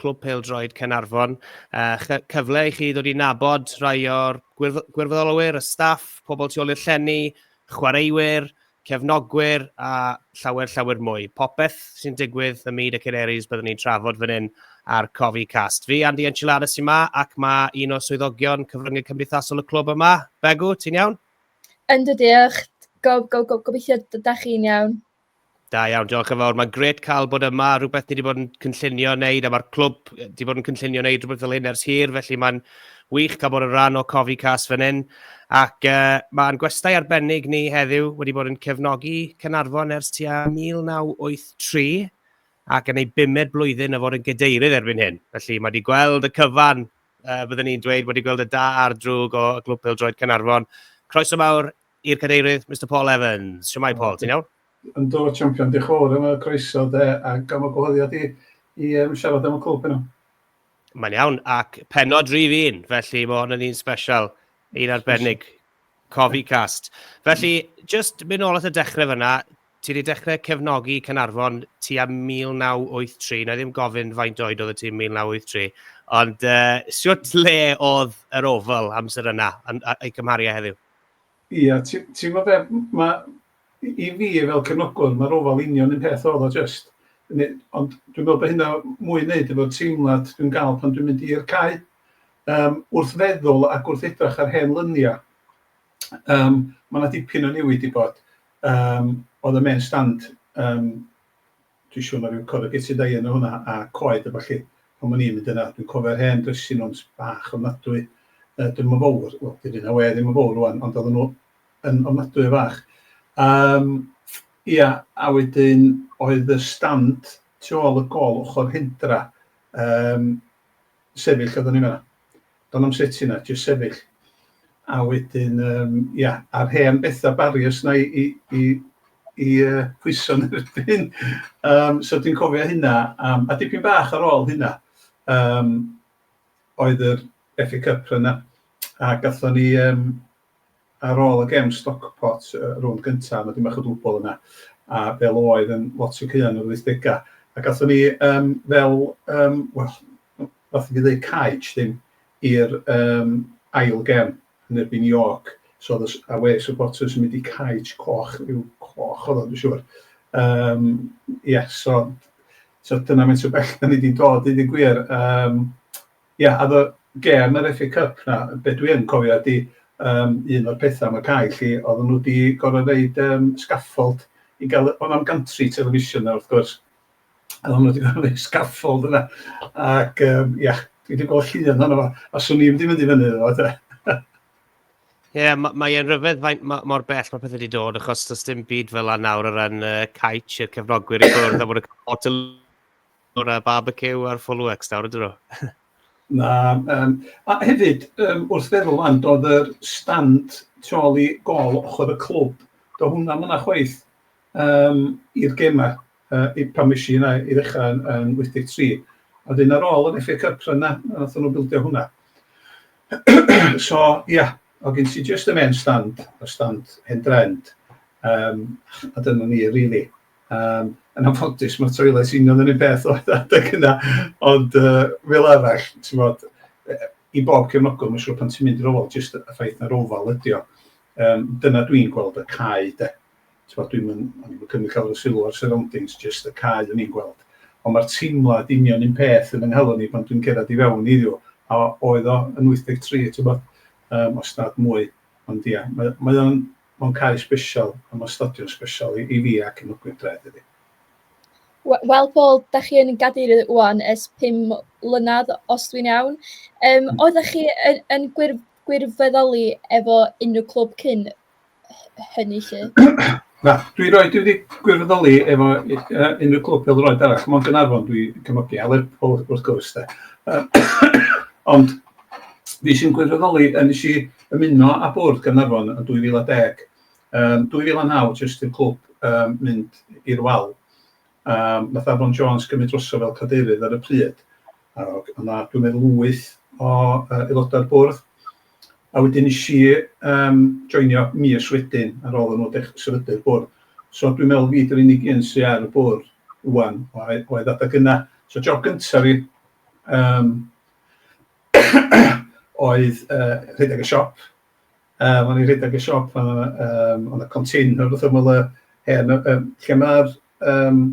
Clwb Pêl-droed Caernarfon. Uh, cyfle i chi ddod i nabod rhai o'r gwirfoddolwyr, y staff, pobl tu ôl i'r llenni, chwaraewyr, cefnogwyr a llawer, llawer mwy. Popeth sy'n digwydd ym myd y Canaries byddwn ni'n trafod fan hyn ar Cofi Cast. Fi, Andy Enchilada, sy'n ma ac mae un o swyddogion cyfryngau cymdeithasol y clwb yma. Begw, ti'n iawn? Ynddo, diolch. Go, go, go, gobeithio da chi'n iawn. Da iawn, diolch yn fawr. Mae'n gret cael bod yma, rhywbeth ni wedi bod yn cynllunio wneud, a mae'r clwb wedi bod yn cynllunio wneud rhywbeth fel hyn ers hir, felly mae'n wych cael bod yn rhan o Cofi Cas fan hyn. Ac uh, mae'n gwestai arbennig ni heddiw wedi bod yn cefnogi Cynarfon ers tua 1983 ac yn ei bumed blwyddyn o fod yn gydeirydd erbyn hyn. Felly mae wedi gweld y cyfan, uh, byddwn ni'n dweud, wedi gweld y da a'r drwg o Glwb Pildroed Cynarfon. Croeso mawr i'r Cadeirydd, Mister Paul Evans. Shwmae Paul, ti'n iawn? Yndw, champion, diolch yn fawr am y croeso de, ac am y gwahoddiad i, i um, siarad am y clwb yna. Mae'n iawn, ac penod rif un, felly mae hwn yn un special, un arbennig, cofi cast. Felly, just mynd ôl at y dechrau fyna, ti wedi dechrau cefnogi Cynarfon ti am 1983, na ddim gofyn faint oed oedd y tîm 1983, ond uh, siwt le oedd yr ofal amser yna, a'i cymharu heddiw? Ia, ti- ti'n gwybod be, m- ma'... i- i fi fel cefnogwr ma'r ofal union un peth oedd o jyst, ne- ond dwi'n meddwl bod hynna mwy i wneud efo'r teimlad dwi'n gael pan dwi'n mynd i'r cae yym wrth feddwl ac wrth edrych ar hen luniau yym ma' 'na dipyn o newid 'di bod yym oedd y main stand yym Dwi'n siŵr na ryw corrugated iron o hwnna a coed a ballu. Pan o'n i'n mynd yna, dwi'n cofio'r hen dressing rooms bach ofnadwy, yy dyn nhw'm yn fowr, wel dydy na we ddim yn fowr rŵan, ond oedden nhw yn ofnadwy o fach. Yym ia, a wedyn oedd y stand tu ôl y gôl ochr hendra, yym, sefyll oeddwn i'n meddwl. Do'n i'm sut i na, jyst sefyll. A wedyn yym ia, a'r hen betha barriers 'na i i i i yy pwyso yn erbyn. Yym so dwi'n cofio hynna yym a dipyn bach ar ôl hynna yym oedd yr FA Cup run 'na a gathon ni yym ar ôl y gem Stockport, y rownd gyntaf, mae dipyn bach o dwbl yna, a fel oedd yn lot o caeau yn yr wythdegau, ac athon ni um, fel, um, well, fath i fi ddweud caej ddim, i'r um, ail gem yn erbyn York, so oedd y away supporters yn mynd i caej coch, rhyw coch oedd o, dwi'n siŵr. Um, yeah, so, so dyna mae'n sy'n bell da ni wedi dod, i ddim gwir. Um, Ie, a efo gêm yr FA Cup 'na, be dwi yn cofio ydi yym un o'r petha am y cae 'lly, oedden nhw 'di gorfod roid yym scaffold i gael y... Oedd o'm gantri television 'na wrth gwrs, a oedden nhw 'di gorfod roid scaffold yna, ac yym ia, dwi 'di gweld llun ohono fo, a 'swn i'm 'di mynd i fyny iddo fo de. Ie, ma- mae e'n rhyfedd faint ma- mor bell mae pethau wedi dod, achos does dim byd fel 'na nawr o ran yy caets i'r cefnogwyr i ffwrdd, a bod y lot o O'r uh, barbecue ar full works nawr ydyn nhw? Na, um, a hefyd, um, wrth feddwl am, doedd yr stand troli gol ochr y clwb, do hwnna yna chwaith um, i'r gemau, uh, i pan mis i yna i ddechrau yn, yn 83. A dyn ar ôl yn FA Cup yna, nath nhw bildio hwnna. so, ia, yeah, o gen ti just y men stand, y stand hen drend, um, a dyna ni, really. Um, yn anffodus, mae toilets union yn un peth o adeg yna, ond uh, fel arall, ti'n bod, i bob cefnogol, mae'n siŵr pan ti'n mynd i'r ofal, jyst y ffaith na'r ofal ydi o. Um, dyna dwi'n gweld y cae, de. Ti'n bod, dwi'n mynd cymryd cael y sylw ar surroundings, jyst y cae o'n i'n gweld. Ond mae'r teimlad union un peth yn ynghalon ni pan dwi'n cerdded i fewn iddiw, a oedd o yn 83, ti'n bod, um, os nad mwy. Ond ia, mae, mae o'n Mae'n cae sbesial am ystodion sbesial i fi ac yn y gwydraeth iddi. Wel Paul, da chi yn gadeirydd ŵan ers pum mlynedd, os dwi'n iawn. Um, mm. Oeddech chi yn, yn gwir, gwirfoddoli efo unrhyw clwb cyn hynny lle? Na, dwi roed wedi gwirfoddoli efo uh, unrhyw clwb fel roed arall. Mae'n yn arfon dwi cymygu, a Lerpwl wrth gwrs da. Uh, ond fi sy'n gwirfoddoli, a nes i ymuno â Bwrdd Gaernarfon yn 2010. Yn 2009 jyst i'r clwb yym mynd i'r wal yym nath Afon Jones gymryd droso fel cadeirydd ar y pryd a o'dd 'na dwi'n meddwl wyth o yy aelodau'r bwrdd a wedyn nes i yym joinio mis wedyn ar ôl i nhw dech- sefydlu'r bwrdd. So dwi'n meddwl fi 'di'r unig un sy ar y bwrdd ŵan oedd oedd adag yna. So job gynta fi yym oedd yy rhedeg y siop, yym o'n i'n rhedeg y siop a yym oedd 'na container wrth ymyl y hen yy yym lle ma'r yym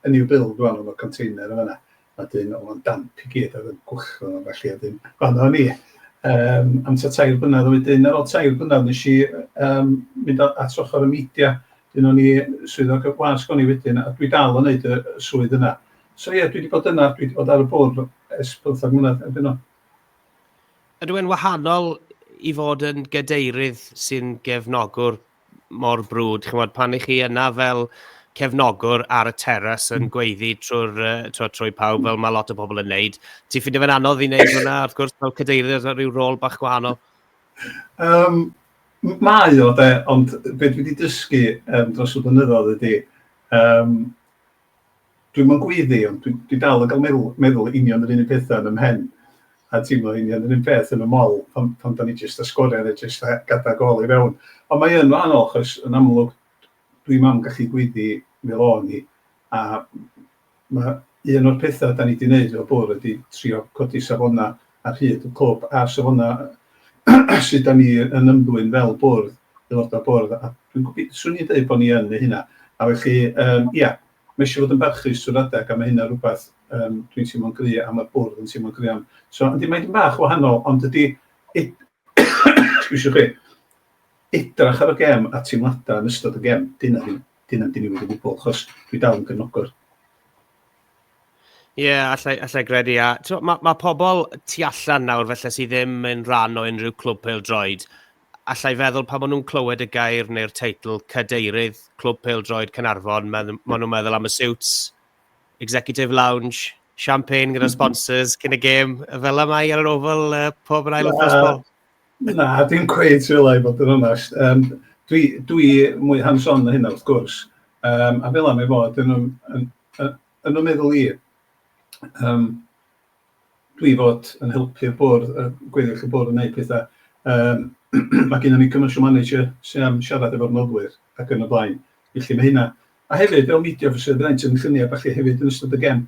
y new build rŵan oedd y container yn fan'na, a 'dyn oedd o'n damp i gyd oedd yn gwll a ballu a 'dyn fan'na o'n i yym am tua tair blynadd, a wedyn ar ôl tair blynadd wnes i yym mynd o at ochr y media, 'dyn o'n i swyddog y wasg o'n i wedyn a dwi dal yn wneud y y swydd yna. So ie, dwi wedi bod yna, dwi wedi bod ar y bwrdd ers pymthag mlynedd erbyn hyn. Ydw e'n wahanol i fod yn gadeirydd sy'n gefnogwr mor brwd, chi'n gwybod, pan i chi yna fel cefnogwr ar y teras yn hmm. gweiddi trwy'r uh, trwy pawb fel mae lot o bobl yn neud. Ti'n ffindio fe'n anodd i wneud hwnna, wrth gwrs, fel cadeirydd ar rhyw rôl bach gwahanol? Um, mae o, de, ond beth dwi wedi dysgu um, dros y blynyddoedd ydy, um, Dwi'm yn gweiddi, ond dwi dwi dal yn cael meddwl meddwl union yr un un petha yn 'y mhen, a teimlo union yr un peth yn 'y mol, pan pan 'dan ni jyst â sgorian ne' jyst â gadan gol i fewn. Ond mae yn wahanol achos yn amlwg dwi'm am gallu gweiddi fel o'n i, a ma' un o'r petha 'dan ni 'di neud fel bwrdd ydi trio codi safona ar hyd y clwb a'r safona sy 'dan ni yn ymddwyn fel bwrdd, aeloda' bwrdd, a dwi'n gofi- 'swn i'n deud bo' ni yn neu' hynna. A felly yym ia. Mae eisiau fod yn barchus trwy'r adeg a mae hynna rhywbeth yym dwi'n teimlo'n gry' a ma'r bwrdd yn teimlo'n gry' am. So yndi mae 'di mynd bach yn wahanol ond dydi ed- excuse chi, edrach ar y gem a teimladau yn ystod y gem, 'di hynna ddim, 'di hynna ddim 'di newid o gwbwl achos dwi dal yn gefnogwr. Ie, yeah, allai, allai gredu. A mae ma pobl tu allan nawr felly sydd ddim yn rhan o unrhyw clwb pel droed, alla i feddwl pan maen nhw'n clywed y gair neu'r teitl 'Cadeirydd Clwb Pêl-droed Caernarfon', maen nhw, maen nhw'n meddwl am y suits, executive lounge, champagne gyda'r mhm. sponsors cyn y gêm, fel y mae ar yr ofal uh, pob yn ail wythnos bol. Na, dim cweith fel ei bod yn onest. Um, dwi, dwi mwy hands-on na hynna, wrth gwrs. Um, a fel am ei fod, yn, yn, yn, yn, yn y meddwl i, um, dwi fod yn helpu'r bwrdd, y gweddill y bwrdd yn neud petha. Yym ma' gynnon ni commercial manager sy am siarad efo'r noddwyr ac yn y blaen. Felly ma' hynna. A hefyd fel media officer fydda i'n tynnu llunia' a ballu hefyd yn ystod y gem.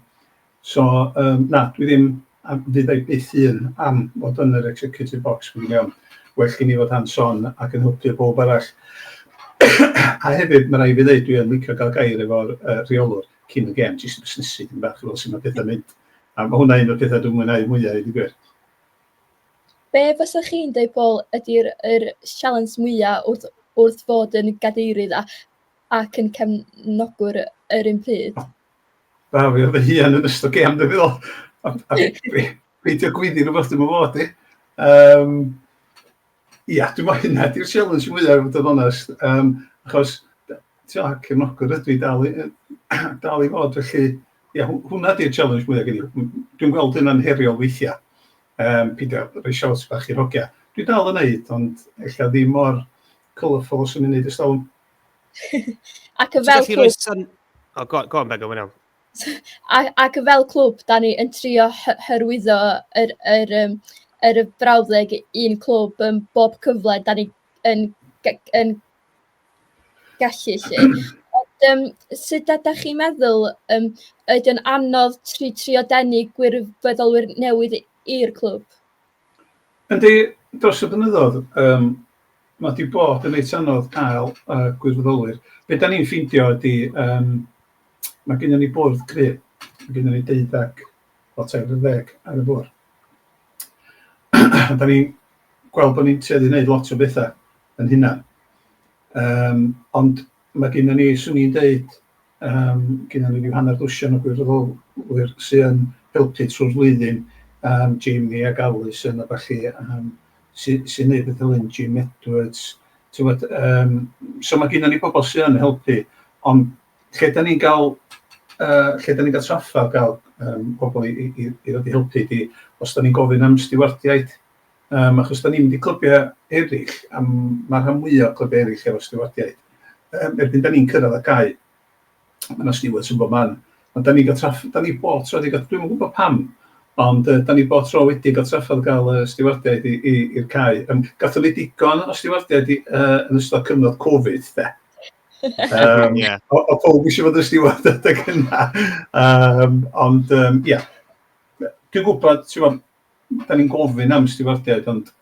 So yym na dwi ddim a fydda i byth un am fod yn yr executive box fi'n gwbod iawn. Well gen i fod hands on ac yn helpu powb arall. a hefyd ma' raid fi ddeud dwi yn licio ga'l gair efo'r yy rheolwr cyn y gem jyst i busnesu dipyn bach i weld su' ma' petha'n mynd. A ma' hwnna un o'r petha dwi'n mwynhau mwya i ddeud y gwir. Be fysa chi'n deud Paul ydi'r yr sialens mwya wrth wrth fod yn gadeirydd a ac yn cefnogwr yr un pryd? Da fi oedd fy hun yn ystod gêm dwi'n meddwl. Ond a fi peidio gwyddi rhywbeth dwi'm yn fod i. Yym. Ia, dwi'n meddwl hynna ydy'r sialens mwya' i fod yn onest yym achos d- ti'bod cefnogwr ydw i dal i yy dal i fod felly ia hw- hwnna ydy'r sialens mwya' gen i. M- m- Dwi'n gweld hynna'n heriol weithiau yym peidio rhoi siawns bach i'r hogia. Dwi dal yn wneud ond ella ddim mor colourful os o'n i'n wneud ers talwm. Ac yn Ti'n fel gallu rhoi cwch, syn... O, go, go on Begw, mae'n iawn. a ac fel clwb, dan ni yn trio hy- hyrwyddo yr yr yym yr yym brawddeg un clwb yym bob cyfle dan ni yn g- yn gallu 'lly. Ond yym sut ydach chi'n meddwl yym ydi o'n anodd tr- trio denu gwirfoddolwyr newydd i'r clwb? Yndi, dros y blynyddoedd yym ma' 'di bod yn reit anodd cael yy gwirfoddolwyr. Be' 'dan ni'n ffeindio ydi yym ma' gynnon ni bwrdd cry', ma' gynnon ni deuddag, wel tair ar ddeg ar y bwrdd. 'Dan ni'n gweld bo' ni'n tueddu i neud lot o betha 'yn hunan yym ond Mae gennym ni, 'swn i'n deud, yym gennym ni ryw hanner dwsin o gwirfoddolwyr sydd yn helpu trwy'r flwyddyn, yym Jamie ac Alison a ballu yym sy- sy'n gwneud pethau fel hyn, Jim Edwards, ti'n gwybod. Yym so mae gennym ni pobl sydd yn helpu, ond lle dan ni'n cael yy lle dan ni'n cael trafferth o gael yym pobl i i i ddod i helpu ydy os dan ni'n gofyn am stiwardiaid. Yym achos dan ni'n mynd i clybiau eraill, a mae'r rhan fwyaf o clybiau eraill efo stiwardiaid. Yym erbyn dan ni'n cyrraedd y cae, mae yna stiwards yn bob man. Ond dan ni'n cael traff- dan ni bob tro wedi cael, dwi'm yn gwybod pam, ond yy dan ni bob tro wedi cael trafferth o gael yy stiwardiaid i i i'r cae. Yym gaethon ni digon o stiwardiaid i yy yn ystod cyfnod Covid de. Yym yeah. o, o pawb eisiau fod yn stiward adeg yna. Yym ond yym ia. Dwi'n gwybod, ti'n gwybod, da ni'n gofyn am stiwardiaid, ond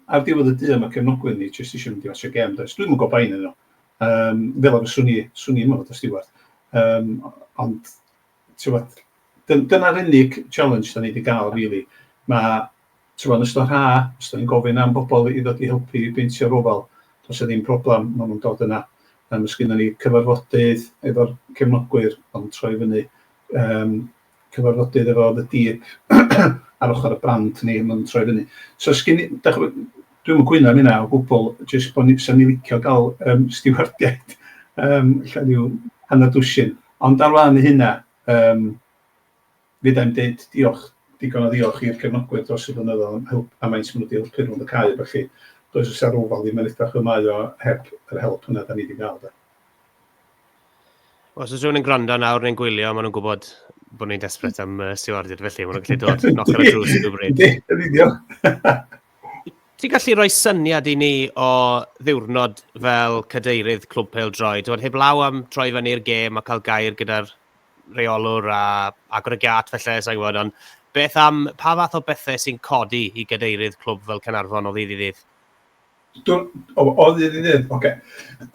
ar ddiwedd y dydd mae cefnogwyr ni jyst eisiau mynd i watsio gêm, does? Dwi'm yn gwybod pa un nhw. Um, fel ar y swn i, swn i yma fod y stiward. Um, ond, ti'n dyna'r unig challenge da ni wedi cael, really. Mae, ti'n yn ystod rha, os da ni'n gofyn am bobl i ddod i helpu i beintio'r ofal, does e ddim problem, maen nhw'n dod yna. Um, os gyda ni cyfarfodydd efo'r cefnogwyr, ond troi fyny um, cyfarfodydd efo The Deep ar ochr y brand ni, maen nhw'n troi fyny. So sgin i, dach chi'n gwybod, dwi'm yn cwyno am hynna o gwbl, jyst bod ni, fysa ni licio gael um, stiwardiaid, um, lle rhyw hanner dwsin. Ond ar wahân i hynna, um, fydda'n dweud diolch, digon o ddiolch i'r cefnogwyr dros y blynyddoedd am help a maent maen nhw wedi helpu rhwng y cae, felly does oes ar ofal ddim yn edrych y mae o heb yr help yna da ni wedi cael. Da. Os oes rhywun yn gwrando nawr neu'n gwylio, maen nhw'n gwybod bod ni'n desperate am uh, stewarded, felly maen nhw'n gallu dod knock ar y drws yn gwybod. Yn union. Ti'n gallu rhoi syniad i ni o ddiwrnod fel cadeirydd Clwb Pel Droi? Dwi'n heb law am troi fan i'r gêm a cael gair gyda'r reolwr a agor y giat felly, sa'n gwybod, ond beth am, pa fath o bethau sy'n codi i gadeirydd clwb fel Cynarfon o ddydd i ddydd? Dwi'n... o, o ddydd i ddydd, ocê.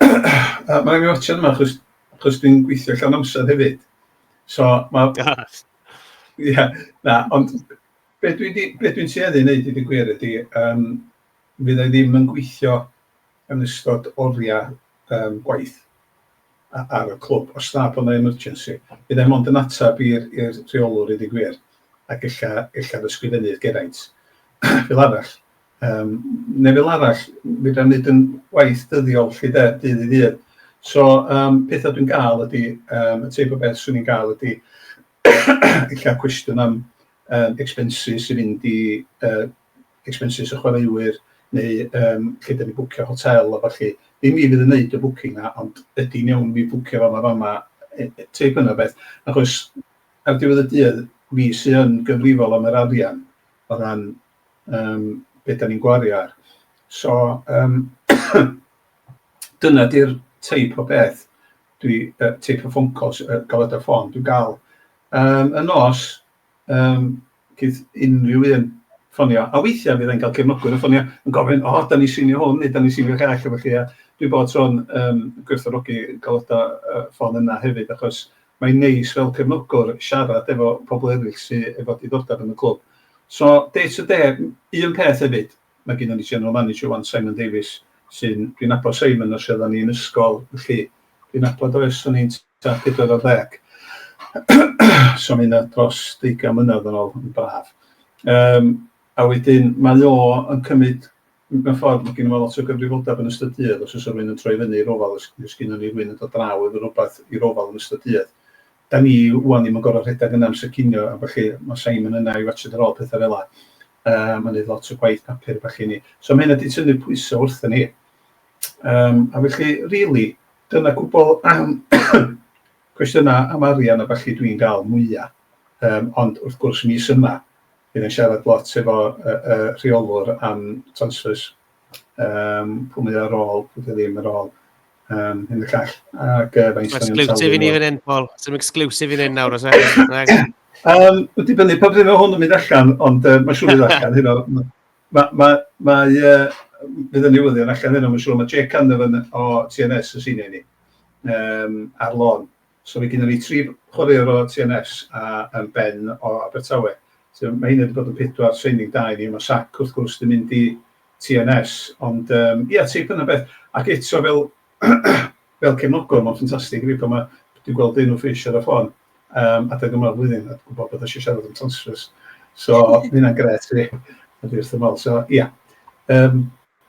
Yy, ma' raid fi watsio yma, achos, achos dwi'n gweithio llawn amser hefyd. So, ma'... Ie, yeah, na, ond be dwi'n di- be dwi'n tueddu i wneud i dy gwir ydy, yym, fydd e ddim yn gweithio yn ystod oriau um, gwaith a- ar y clwb, os na bod yna emergency. Bydd e mond yn ateb i'r i'r rheolwr i dy gwir, ac ella, ella ddysgrifennu'r Geraint, fel arall. Yym neu fel arall, fedra i'm wneud yn waith dyddiol 'lly de, dydd i ddydd. So yym petha dwi'n gael ydy, yym y teip o beth 'swn i'n gael ydy ella cwestiwn am yym expenses i fynd i yy expenses y chwaraewyr neu yym lle 'dan ni'n bwcio hotel a ballu. Dim fi fydd yn wneud y bwcing 'na ond ydy hi'n iawn i mi bwcio fama fama yy yy teip yna o beth achos ar diwedd y dydd fi sy yn gyfrifol am yr arian o ran um, beth da ni'n gwario ar. So, um, dyna di'r teip o beth, dwi, uh, teip o ffôn call, uh, galwad ar ffôn, dwi'n gael. Um, y nos, um, gyda unrhyw un ffonio. A weithiau fydd e'n cael cefnogwyr yn ffonio yn gofyn, o, oh, da ni sinio hwn, neu da ni sinio gall, efo chi. A dwi bod tro'n um, gwerthorogi galodau uh, ffôn yna hefyd, achos Mae'n neis fel cefnogwr siarad efo pobl eraill sy efo diddordeb yn y clwb. So, day to day, un peth hefyd, mae gynnon ni general manager ŵan, Simon Davies, sy'n, dwi'n nabod Simon ers oeddan ni yn ysgol, felly dwi'n nabod o ers o'n i'n tua pedwar ar ddeg. so mae hynna dros deugain mlynedd yn ôl, yn braf. Yym, a wedyn mae o yn cymryd Mewn ffordd, mae gennym lot o gyfrifoldeb yn ystod dydd, os oes rhywun yn troi fyny i'r ofal, os os gennym ni rhywun yn dod draw efo rhywbeth i'r ofal yn ystod dydd. Dan ni ŵan ddim yn gorfod rhedeg yna amser cinio a ballu, mae Simon yna i watsiad ar ôl pethau fel yna, yym a neud lot o gwaith papur a ballu i ni. So mae hynna wedi tynnu pwysau wrthyn ni. Yym a felly rili, dyna cwbl am cwestiynau am arian a ballu dwi'n gael mwya. Yym ond wrth gwrs mis yma, Bydd yn siarad lot efo y y rheolwr am transfers, yym pwy mae o ar ôl, pwy 'di o ddim ar ôl, yym hyn y llall, ac yy faint 'dan ni'n talu... Exclusive i ni fan hyn Paul, some exclusive i ni nawr os e? Yym ma'n dibynnu pa bryd ma' hwn yn mynd allan ond yy ma'n siŵr fydd allan heno ma' ma' ma' mae yy fydd y newyddion allan heno ma'n siŵr ma' Jake Canavan o TNS yn senior i ni yym ar lon So mae gennym ni tri chwaraewr o TNS a yym Ben o Abertawe. So mae hyn wedi bod yn pedwar training da i ni. Mae Shaq wrth gwrs wedi mynd i TNS ond yym ia tip yna beth ac eto fel fel cefnogwr mae'n ffantastig i fi pan mae dwi'n gweld un o Fish ar y ffôn yym adeg yma o'r flwyddyn a gwybod bod eisiau siarad am transfers. So mae hynna'n grêt i fi a dwi wrth fy modd. So ia yym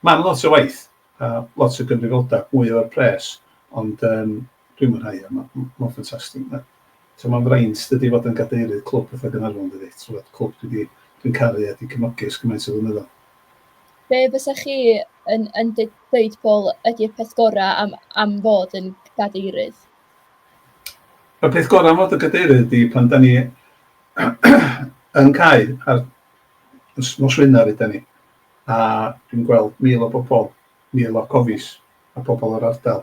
mae'n lot o waith a lot o gyfrifoldeb, mwy o'r pres ond yym Dwi'n mwynhau o, mae'n ffantastig. Mae'n fraint dydy fod yn gadeirydd clwb fatha Gaernarfon dydy? Tibod, clwb dwi 'di... dwi'n caru a 'di cefnogi ers cymaint o flynyddoedd. Be fysa chi yn yn deud Paul ydi'r peth gorau am am fod yn gadeirydd? Y peth gorau am fod yn gadeirydd ydi pan da ni yn cau ar nos Wener ydan ni a dwi'n gweld mil o bobl, mil o cofis a pobl yr ardal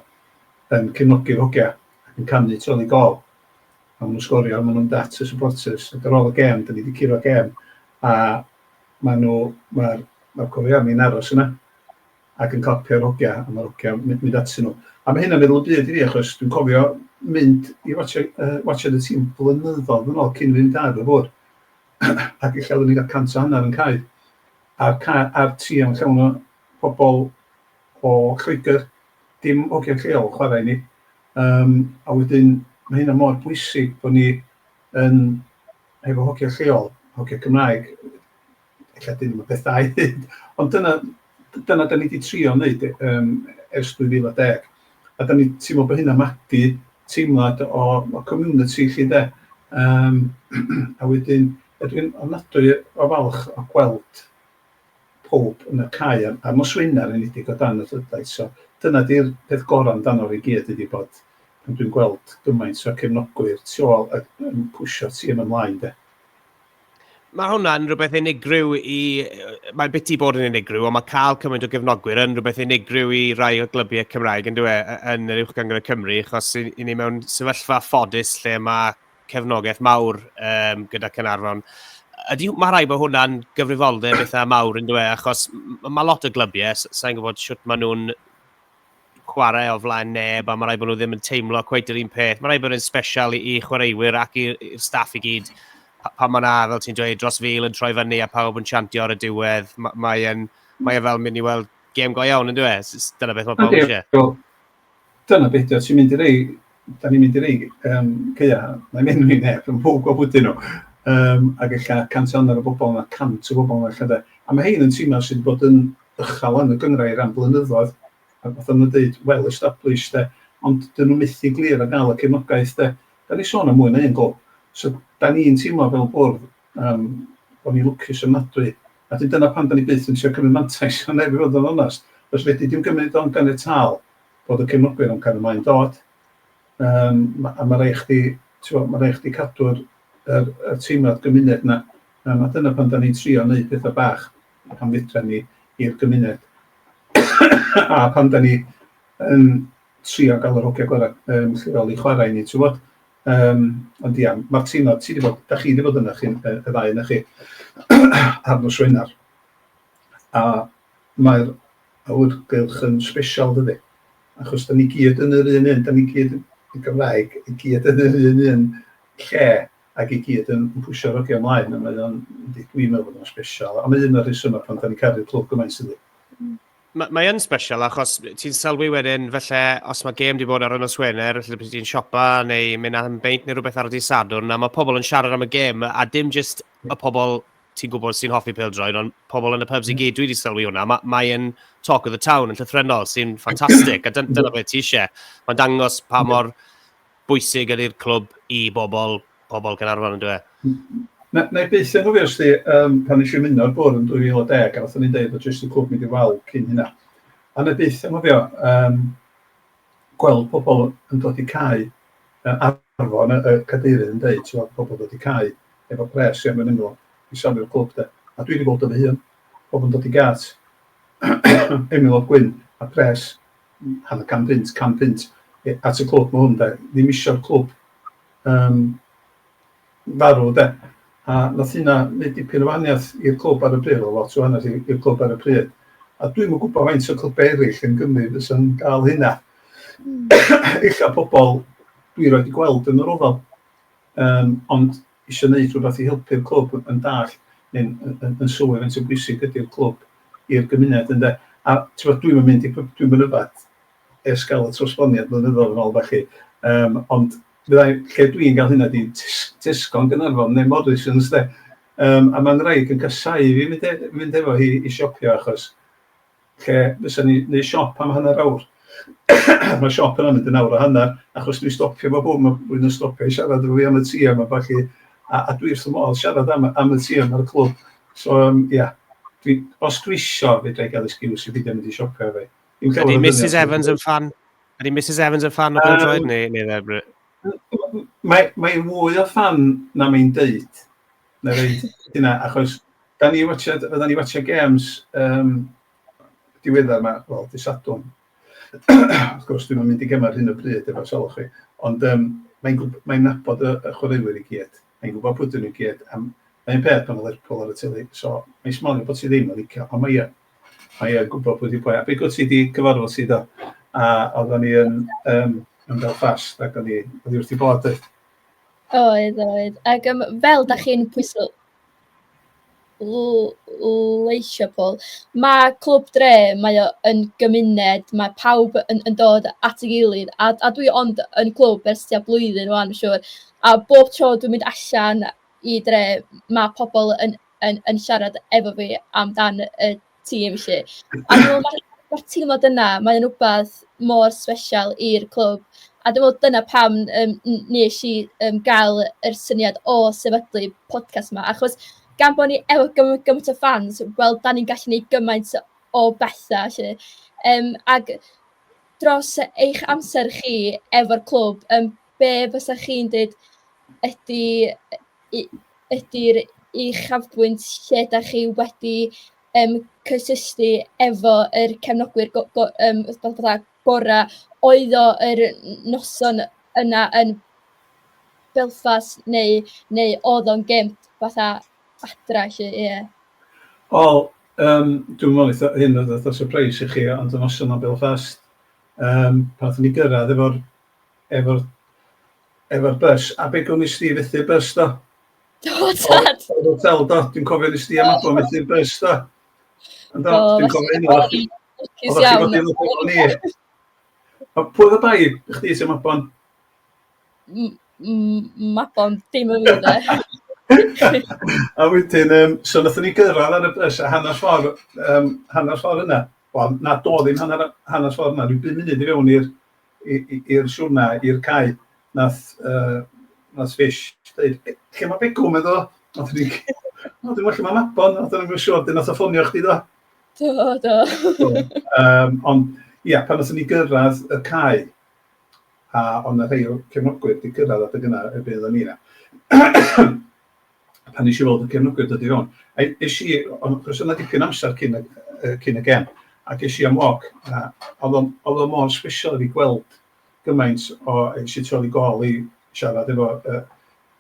yn cefnogi'r hogia ac yn canu Twel i Gol a ma' nhw'n sgorio a ma' nhw'n mynd at y supporters ac ar ôl y gêm 'dan ni 'di curo gêm a ma' nhw ma'r ma'r coreani'n aros yna ac yn clapio'r hogia a ma'r hogia mynd mynd atyn nhw a ma' hynna'n meddwl y byd i fi achos dwi'n cofio mynd i watsio yy watsio y tîm blynyddoedd yn ôl cyn fynd ar y fwrdd ac ella oeddwn i'n cael cant o hanner yn cau a'r ca- a'r tri am llawn o pobl o Lloegr, dim hogiau lleol chwarae i ni. Yym a wedyn ma' hynna mor bwysig bo' ni yn hefo hogiau lleol, hogiau Cymraeg, ella 'dyn nhw'm yn peth da i ddeud ond dyna d- dyna 'dan ni 'di trio neud yym ers 2010 a 'dan ni'n teimlo bo' hynna'n magu teimlad o o community 'lly 'de? Yym a wedyn ydw i'n ofnadwy o falch o gweld pawb yn y cae a'r a'r nosweini ar enedig o dan y fflydau so dyna di'r peth gorau amdano fe i gyd ydi bod pan dwi'n gweld gymaint o cefnogwyr tu ôl ac yn pwsio'r tîm ymlaen de. Mae hwnna'n rhywbeth unigryw i... Mae'n biti bod yn unigryw, ond mae cael cymaint o gefnogwyr yn rhywbeth unigryw i rai o glybiau Cymraeg yn dweud yn yr Uwch Gyngor Cymru, achos i, i ni mewn sefyllfa ffodus lle mae cefnogaeth mawr um, gyda Cynarfon. Ydy, mae rhaid bod hwnna'n gyfrifoldeb eitha mawr yn dweud, achos mae lot o glybiau, sa'n gwybod sut maen nhw'n chwarae o flaen neb, a mae rhaid bod nhw ddim yn teimlo cweith yr un peth. Mae rhaid bod yn special i, i chwaraewyr ac i'r staff i gyd. Pa, pa mae'n ar, fel ti'n dweud, dros fil yn troi fyny a pawb yn siantio ar y diwedd, mae'n mae, mae e fel mynd i weld gêm go iawn yn dweud. Dyna beth mae pawb eisiau. Dyna be' 'di o, ti'n mynd i rei, 'dan ni'n mynd i rei yym caea', wna i'm enwi neb, ond pawb gwybod pwy 'dyn nhw, yym ac ella cant a hanner o bobl yna, cant o bobl yna ella de, a ma' rhein yn timau sydd wedi bod yn uchal yn y gynghrair am flynyddoedd, ac fatha ma' nhw'n deud, well established de, ond 'dyn nhw methu glir ar gael y cefnogaeth de. 'Dan ni'n sôn am mwy na un glwb, so 'dan ni'n teimlo fel bwrdd, Yym, o'n i'n lwcus ofnadwy. A 'dyn dyna pam 'dan ni byth yn trio cymryd mantais o neb i fod yn onast, os fedri di'm gymryd o'n ganiataol bod y cefnogwyr yn cario mlaen dod. Yym, ma- a ma' raid chdi, t'mo', ma' raid chdi cadw'r yr y teimlad gymuned 'na. Yym, a dyna pam 'dan ni'n trio neud petha bach pan fedran ni i'r gymuned. A pan 'dan ni yn trio ga'l yr hogia gora' yym lleol i chwara' i ni, t'wbod? Yym, ond ia, Martina, ti 'di bod... dach chi 'di bod yna chi... y y ddau ohonoch chi ar nos Wener, a mae'r awyrgylch yn sbesial dydi, achos 'dan ni gyd yn yr un un, 'dan ni gyd yn Gymraeg, i gyd yn yr un un lle, ac i gyd yn yn pwshio'r hogia ymlaen, a mae o'n... yndi, dwi'n meddwl bod o'n sbesial, a mae un o'r rhesymau pam 'dan ni'n caru'r clwb gymaint yndi? Mae, mae yn special achos ti'n sylwi wedyn felly os mae gêm wedi bod ar y nos Wener, felly bydd ti'n siopa neu mynd am beint neu rhywbeth ar y dydd Sadwrn a mae pobl yn siarad am y gêm a dim jyst y pobl ti'n gwybod sy'n hoffi pildroed ond pobl yn y pubs i mm. gyd dwi wedi sylwi hwnna. Mae, mae yn talk of the town yn llythrenol sy'n ffantastig a dyna beth ti eisiau. Mae'n dangos pa mor bwysig yn i'r clwb i bobl, pobl Caernarfon yn dyw e? Na, na i byth anghofio os di, um, pan nes i ymuno'r bwrdd yn 2010, a wnaethon ni'n deud bod jyst y clwb mynd i wal cyn hynna. A na i byth anghofio um, gweld pobl yn dod i cael uh, arfon y, y cadeirydd yn deud, ti'n pobl yn dod i cael efo pres i am yn ymlaen i safio'r clwb de. A dwi wedi bod yn fy hun, pobl yn dod i gât, Emil O'Gwyn a pres hanner can punt, can punt at y clwb, mae hwn de, ddim eisiau'r clwb um, farw de. A nath hynna wneud dipyn o wahaniaeth i'r clwb ar y pryd, o lot o wahaniaeth i'r clwb ar y pryd. A dwi'n mwyn gwybod faint o clwb eraill yn Gymru fes yn gael hynna. Mm. Ella pobl dwi roed i gweld yn yr ofal. Um, ond isio neud rhywbeth i helpu'r clwb yn yn dallt neu'n yn yn sylwi faint o bwysig ydi'r clwb i'r gymuned ynde? A t'mod dwi'm yn mynd i pub- dwi'm yn yfad ers ga'l y trosgloniad blynyddodd yn ôl felly yym ond fyddai lle dwi'n ga'l hynna ydi tes- Tesco yn Gaernarfon neu Morrisons 'de? Yym a ma'n wraig yn casáu fi mynd e- mynd efo hi i siopio achos lle fysa ni, neu siop am hanner awr. Mae siop yna'n mynd yn awr a hanner, achos dwi'n stopio fo bwm, mae rhywun yn stopio i siarad efo fi am y ti yma, felly, a, a dwi wrth y modd siarad am, am y ti yma ar y clwb. So, um, ia, dwi, os dwi isio, fe drai gael excuse i beidio mynd i siopio fe. Ydy Mrs Evans yn fan? Ydy Mrs Evans yn fan o Brynfroed, um, neu, neu Mae, mae fwy o fan na mae'n deud. Wna i ddeud hynna, achos da ni watcha, oedden ni watcha games um, diweddar yma, wel, di Sadwn. Wrth gwrs, dwi'n mynd i gymryd hyn o bryd efo sylw chi. Ond um, mae'n mae nabod y, y chwaraewyr i gyd. Mae'n gwybod pwy dyn nhw gyd. Am, mae'n peth pan oedd Lerpol ar y teli. So, mae'n smalio bod ti ddim yn licio. Ond mae e. Mae e'n gwybod pwy di pwy. A beth gwrs ti di cyfarfod si do. A oedden ni yn, um, yn Belfast ac o'n i, o'n i wrth i bod. Oedd, oedd. Ac yym fel dach chi'n pwyso l- l- leisio Paul, ma' Clwb Dre, mae o yn gymuned, ma' pawb yn yn dod at ei gilydd, a a dwi ond yn clwb ers tua blwyddyn ŵan siŵr, a bob tro dwi'n mynd allan i dre, ma' pobl yn yn yn siarad efo fi amdan y... tîm 'lly. A dwi'n meddwl mae'r teimlad yna, mae o'n rywbeth mor special i'r clwb, a dwi'n meddwl dyna pam yym n- wnes i yym gael yr syniad o sefydlu podcast 'ma, achos gan bod ni efo gyma- gymaint o fans, wel dan ni'n gallu gwneud gymaint o bethau 'lly. Yym ac dros eich amser chi efo'r clwb, yym... be fysa chi'n dweud ydy y... ydy'r uchafbwynt lle dach chi wedi yym cysylltu efo yr cefnogwyr go- go- yym fatha gorau? Oedd o yr noson yna yn Belfast neu neu oedd o'n gêm fatha adra 'lly, ie? Wel yym dwi'm yn meddwl wneith hyn fod fatha' sypreis i chi ond y noson yna yn Belfast yym pan wnaethon ni gyrraedd efo'r efo'r efo'r bys. A be gwn i sti fethu'r bys do? Do, tad! Oedd o fel do, dwi'n cofio nes di am abo fethu'r bys do. Ond do, dwi'n cofio hynny. Oedd chdi fod i'n lwcus o'n i. A pwy oedd y bai i chdi sy'n mabon? Mabon, dim yn mynd e. a wedyn, um, so nath ni gyrraedd ar y bys a hanner ffordd, um, hanner ffordd yna. Wel, na, do ddim hanner, hanner ffordd yna, rhyw bum munud i fewn i'r i'r siwrna, i'r cae, nath, uh, nath Fish dweud, lle mae Begw, meddwl o? Nath ni, o, dwi'n lle mae Mabon, nath ni'n gwybod siwr, dyn nath o ffonio chdi do? Do, do. um, ond, ia, yeah, pan nath ni gyrraedd y cae, a ond y rhai o'r cefnogwyr wedi cyrraedd adeg yna erbyn oedden ni yna. pan nes i weld y cefnogwyr yn dod i fewn. A es i, ond achos oedd 'na dipyn o amser cyn y yy cyn y gem, ac es i am walk a oedd o'n oedd o mor special i fi gweld gymaint o, es i tu ôl i gôl i siarad efo yy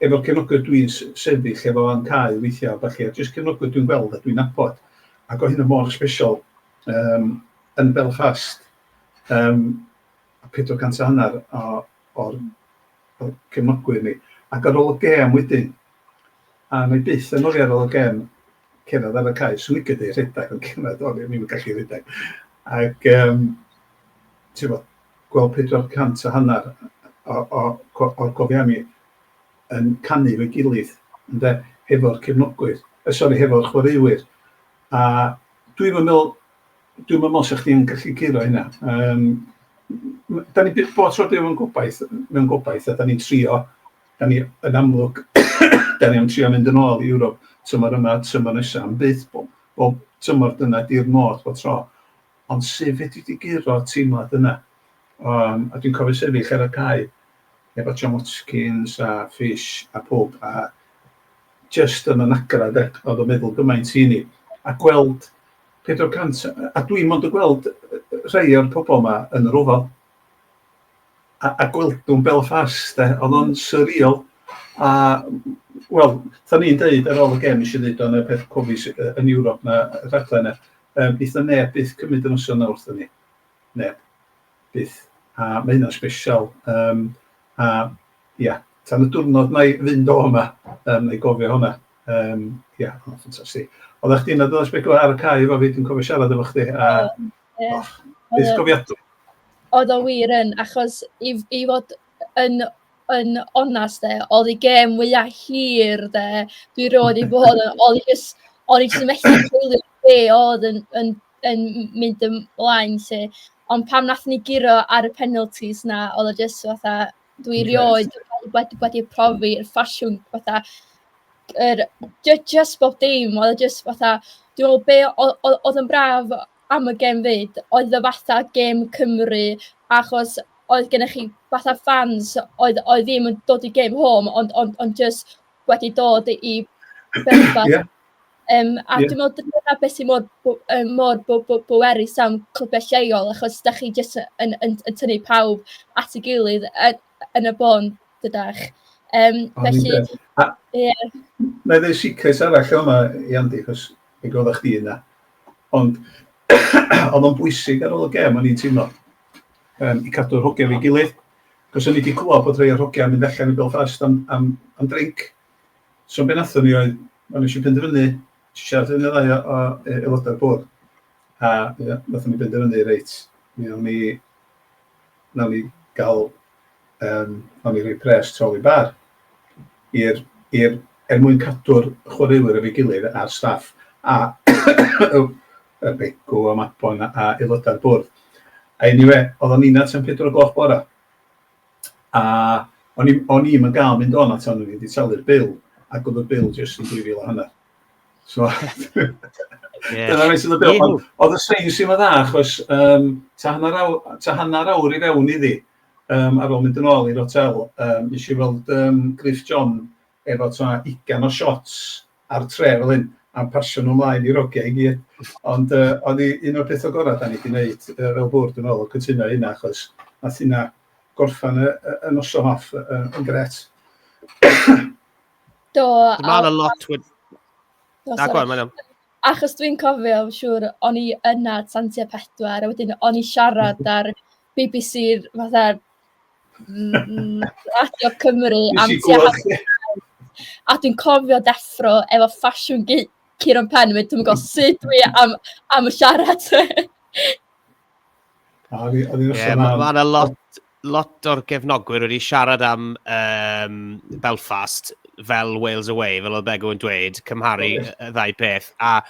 efo'r cefnogwyr dwi'n s- sefyll efo yn cau weithiau a ballu, a jyst cefnogwyr dwi'n gweld a dwi'n nabod, ac oedd hynna mor special yym yn Belfast. Yym. a phedwar cant a hanner o o'r o cefnogwyr ni. Ac ar ôl y gêm wedyn, a wna i byth anghofio ar ôl y gêm, cerdded ar y cae, 'swn i'n licio rhedeg ond gymaint o'n i ddim yn gallu rhedeg. Ac um, ti'n bod, gweld pedwar cant a hanner o, o, o, o'r cofiau mi yn canu fo'i gilydd, ynde, hefo'r cefnogwyr, eh, sori, hefo'r chwaraewyr. A dwi'n meddwl dwi'm yn meddwl sa chdi'n gallu curo hynna. Yym m- m- 'dan ni byth bob tro dwi mewn gobaith mewn gobaith a 'dan ni'n trio 'dan ni yn amlwg 'dan ni am trio mynd yn ôl i Ewrop tymor yma tymor nesa on' byth bo- bob tymor dyna 'di'r modd bob tro. Ond su' fedri di guro teimlad yna? Yym a dwi'n cofio sefyll ar y cae efo John Watkins a Fish a powb a jyst yn y nagra 'de o'dd o'n meddwl gymaint i ni a gweld Pedwar cant, a dwi'n mond yn gweld rhai o'r pobl yma yn yr ofal. A, a gweldwn Belfast, de, oedd o'n surreal. A, wel, tha ni'n dweud ar ôl y gem, eisiau dweud o'n y peth cofis yn Ewrop na rhaglen e, um, eitha neb byth cymryd yn noson na wrthyn ni. Neb. byth. A mae hynna'n sbesial. Yym a ia, tan y diwrnod wna i fynd o fama, yym wna i gofio hwnna. Yym ia, oedd o'n ffantastig. Oedda chdi'n yna does Begw ar y cae efo fi, dwi'n cofio siarad efo chdi a och, byth cofiadwy. Oedd o wir yn, achos i i fod yn yn onest de, oedd y gêm mwya hir de dwi 'rioed 'di bod yna, o'n i jyst o'n i jyst yn methu coelio be oedd yn yn yn mynd ymlaen 'lly, ond pan wnaethon ni guro ar y penalties 'na, oedd o jyst fatha, dwi erioed wedi wedi profi'r ffasiwn fatha yr jy- jyst bob dim, oedd o jyst fatha, dwi'n meddwl be o- o- oedd yn braf am y gêm 'fyd oedd y fatha gêm Cymru, achos oedd gennych chi fatha fans oedd oedd ddim yn dod i gêm home ond ond ond jyst wedi dod i Belfast... Ia. Yym a dwi'n meddwl dyna beth sy mor bw- yym mor bw- bw- bwerus am clybau lleol, achos dach chi jyst yn yn yn tynnu pawb at ei gilydd yy yn y bôn dydach. Yym felly... Ond yy a... Ie. ...wna i ddeud secret arall yn fama i Andy achos mi roeddach chdi yna, ond oedd o'n bwysig ar ôl y gêm o'n i'n teimlo yym i cadw'r hogia efo'i gilydd, achos o'n i 'di clywed bod rhai o'r hogia yn mynd allan i Belfast am am am drinc. So be wnaethon ni oedd, o'n ni eisiau penderfynu, eisiau siarad yn y ddau o, o e, aelodau'r bwrdd, a wnaethon ni benderfynu, reit, mi o'n ni, wnawn ni gael, um, o'n ni rhoi pres troli bar i'r, i'r, er mwyn cadw'r chwaraewyr efo'i gilydd a'r staff, a y begw a mabon a aelodau'r bwrdd. A anyway, oedd o'n nina tan 4 o gloch bora. a o'n i'm o'n i'm yn gael mynd o'n at o'n i wedi talu'r bil, ac oedd y bil jyst yn 2,000 a hanner. So, dyna beth sydd y bil. Ond oedd y sain sy'n dda, achos um, ta, hanner awr, ta hanner awr i fewn iddi, um, ar ôl mynd yn ôl i'r hotel, um, nes i weld um, Griff John efo ta ugan o shots ar tre fel hyn a pasio nhw ymlaen i'r hogiau i gyd. Ond yy oedd hi un o'r pethau gorau dan ni wedi wneud yy fel bwrdd dwi'n meddwl oedd cytuno hynna achos wnaeth hynna gorffan y, y, y noson off yn, yn gret. Do. Dwi'n meddwl a lot wedi... Na, gwael, mae'n iawn. Achos dwi'n cofio, siŵr, o'n i yna tan tua pedwar, a wedyn o'n i siarad ar BBC fatha Mm, Radio Cymru am tua A dwi'n cofio deffro efo ffasiwn Ciron Pen, dwi'n gwybod sut dwi am, am y siarad. Ie, yeah, mae ma yna lot, lot o'r gefnogwyr wedi siarad am um, Belfast fel Wales Away, fel oedd Begw yn dweud, cymharu y ddau peth. A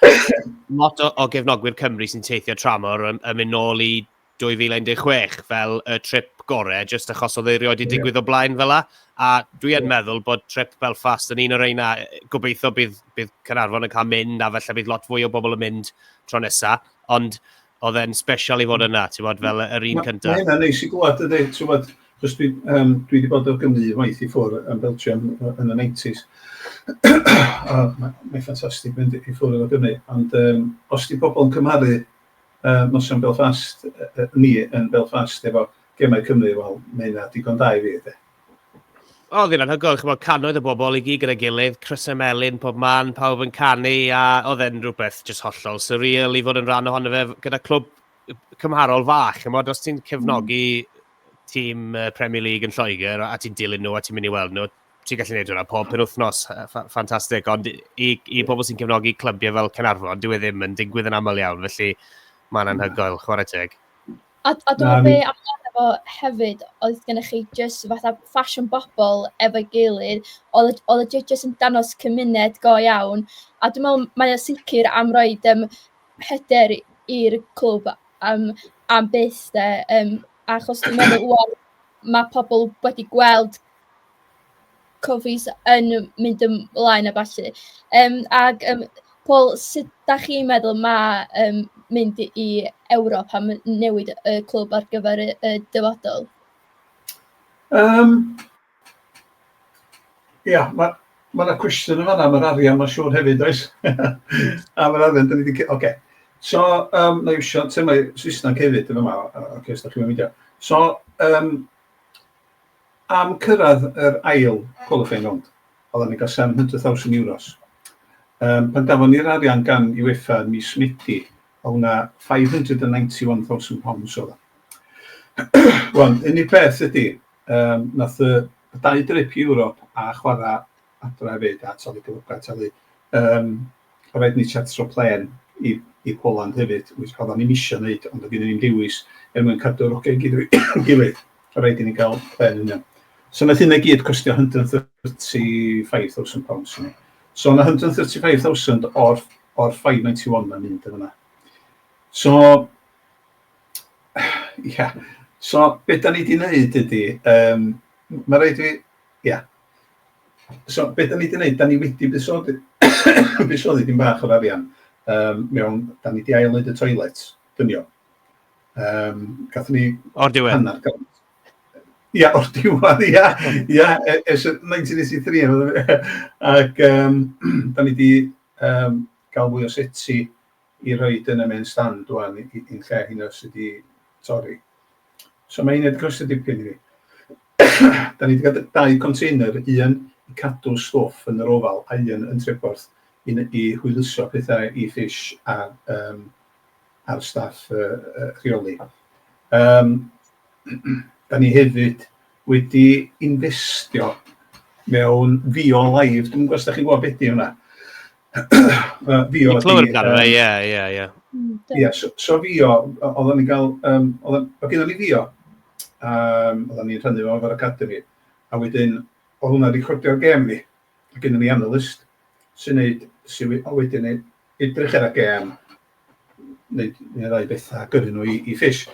lot o, o gefnogwyr Cymru sy'n teithio tramor yn, yn mynd nôl i 2016 fel y trip gorau, jyst achos oedd ei rioed wedi digwydd o blaen fel la. A dwi yn meddwl bod trip Belfast yn un o'r reina, gobeithio bydd, bydd Cynarfon yn cael mynd, a felly bydd lot fwy o bobl yn mynd tro nesa. Ond oedd e'n special i fod yna, ti'n bod, fel yr un cyntaf. Mae hynna'n neis i glwad, ydy, ti'n bod, chos dwi, um, dwi wedi bod o Gymru waith i ffwr yn Belgium yn y 90s. Mae'n ffantastig mynd i ffwr o Gymru, ond um, os di pobl yn cymharu yy noson Belfast yy ni yn Belfast efo gemau Cymru, wel ma' hynna digon da i fi de. O oedd hi'n anhygoel, ch'mod cannoedd o bobl i gyd gyda'i gilydd, crysau melyn pob man, pawb yn canu a oedd e'n rhywbeth jyst hollol surreal i fod yn rhan ohono fe gyda clwb cymharol fach, ch'mod os ti'n cefnogi tîm Premier League yn Lloegr a ti'n dilyn nhw a ti'n mynd i weld nhw, ti'n gallu gwneud hwnna pob penwythnos, ffantastig, ond i, i yeah. bobl sy'n cefnogi clybiau fel Cynarfon, dwi e ddim yn digwydd yn aml iawn, felly mae'n anhygoel, chwarae teg. A, a dwi'n meddwl be amdano fo hefyd, oedd gennych chi jyst fatha ffasiwn bobl efo'i gilydd, oedd y judges yn danos cymuned go iawn, a dwi'n meddwl mae o sicr am roi um, hyder i'r clwb am, am byth, de, um, achos dwi'n meddwl, mae pobl wedi gweld Cofis yn mynd ymlaen a ballu. Yym ac yym Paul, sut dach chi'n meddwl ma' yym mynd i Ewrop a m- newid y clwb ar gyfer y y dyfodol? Yym ia ma' ma' 'na cwestiwn yn fanna am yr arian ma'n siŵr hefyd does? Am yr arian 'dan ni 'di ce- ocê. So yym na iwsio termau Saesneg hefyd yn fama o- ocê os dach chi'm yn meindio. So yym Am cyrraedd yr ail qualifying round, oeddan ni'n cael €700,000. Yym, pan gafon ni'r arian gan UEFA ym mis Medi, oedd hwnna £591,000 oedd o. Wan, unig beth ydi, yym, nath y y dau drip i Ewrop a chwarae adra hefyd a talu cyflogau talu yym o raid ni chartro plen i i Poland hefyd which oeddan ni'm isio wneud ond oedd gen i ddim dewis er mwyn cadw'r ogau i gyd i'w gilydd o raid i ni gael plen union so wnaeth hynna i gyd costio £135,000 i ni so yna £135,000 o'r o'r 591 'na'n mynd yn yna so ia so be da ni di wneud ydi yym ma' raid fi ia So, be da ni 'di neud, da ni wedi buddsoddi buddsoddi dim bach o'r arian um, mewn, da ni wedi ail wneud y toilet, dynio. Um, gath ni... O'r diwedd? Hanner gant. Ia, o'r diwedd, ia. Ia, ers 1983. Ac um, da ni wedi um, gael fwy o seti i roid yn y main stand ŵan yn lle hynna sy 'di torri. So mae hynna 'di costio dipyn i fi. da ni 'di cael dau container, un i cadw stwff yn yr ofal a un yn Treborth i, i hwyluso pethau i Fish a um, a'r staff uh, uh, rheoli. Um, da ni hefyd wedi investio mewn fio live, dwi'n gwybod os da chi'n gwybod beth di hwnna. uh, fi o... Ti'n clywed amdano fe, ie, ie, ie. Hmm, ie, so fi o, oedden ni'n cael, um, oedden, o gyda ni fi o, um, oedden ni'n rhannu fo efo'r academi, a wedyn, o hwnna recordio'r gem ni, a gyda ni analyst sy'n neud, sy'n wedyn edrych ar y gem, neu, neu rai bethau a gyrru nhw i, i ffis.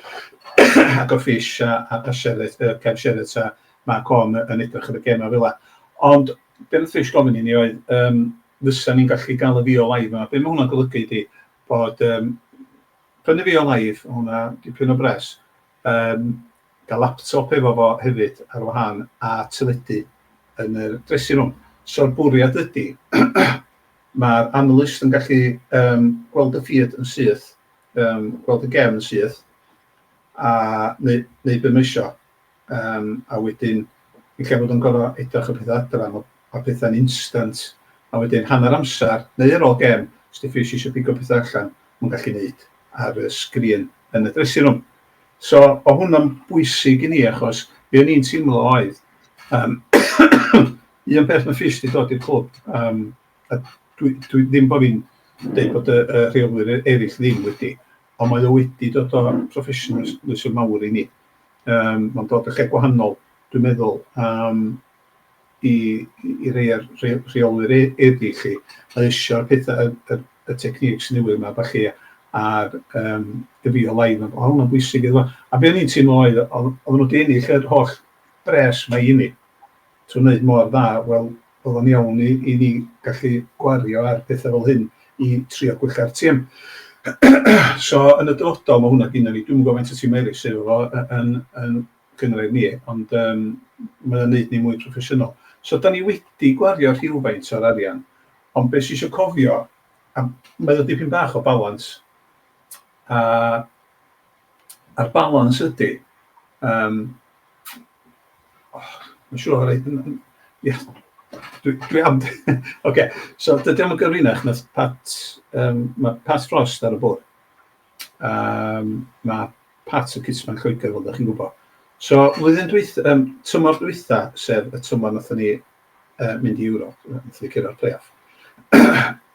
ac o ffis a, a, a sefyll, uh, cefn sefyll ta, mae con yn edrych ar y gemau fel la. Ond be wnaeth ffis gofyn i ni oedd, um, fysa ni'n gallu gael y fi o live yma. Be mae hwnna'n golygu ydy bod um, prynu fi o live, hwnna dipyn o bres, um, gael laptop efo fo hefyd ar wahân a teledu yn y dressing room. So'r bwriad ydy, Mae'r analyst yn gallu yym gweld y feed yn syth, yym gweld y gem yn syth, a neu neu be mae isio. Yym a wedyn yn lle bod o'n gor'o' edrych y petha adra ma' ma' petha'n instant a wedyn hanner amser neu ar ôl gem os 'di Fizz isio pigo petha allan ma'n gallu neud ar y sgrin yn y dressing room. So o' hwnna'n bwysig i ni achos be' o'n i'n teimlo oedd yym Un peth mae'n fis 'di dod i'r clwb yym a dwi dwi... ddim bod fi'n deud bod y y rheolwyr e- eraill ddim wedi, ond mae o wedi dod o proffesiynalis mawr i ni. Yym mae'n dod o lle gwahanol dwi'n meddwl yym i i i rei o'r rhei o'r rheolwyr e- eraill 'lly a isio'r petha y y y techniques newydd 'ma a ballu a'r yym y real-life a ma' hwnna'n bwysig iddo fo. A be o'n i'n teimlo oedd o- oedden nhw 'di ennill yr holl bres 'ma i ni. to wneud mor dda, wel, oedd o'n iawn i i ni gallu gwario ar pethau fel hyn i trio gwella'r tîm. so, yn y dyfodol, mae hwnna gynna ni. Dwi'm yn gwybod faint o tîm eraill sydd efo fo yn yn gynghrair ni, ond um, mae o'n neud ni mwy proffesiynol. So, da ni wedi gwario rhywfaint o'r arian, ond beth sy'n eisiau cofio, a mae o dipyn bach o balans, a a'r balans ydy, um, Mae'n siŵr o fod yn... Ie, dwi dwi am de! Ocê, so dydy o'm yn gyfrinach na Pat yym ma' Pat Frost ar y bwrdd, yym ma' Pat yn Cytman Lloegr fel 'da chi'n gwybod. So flwyddyn dwyth- yym tymor dwytha, sef y tymor nathon ni yy mynd i Ewrop, nathon ni cyrra'r play-off,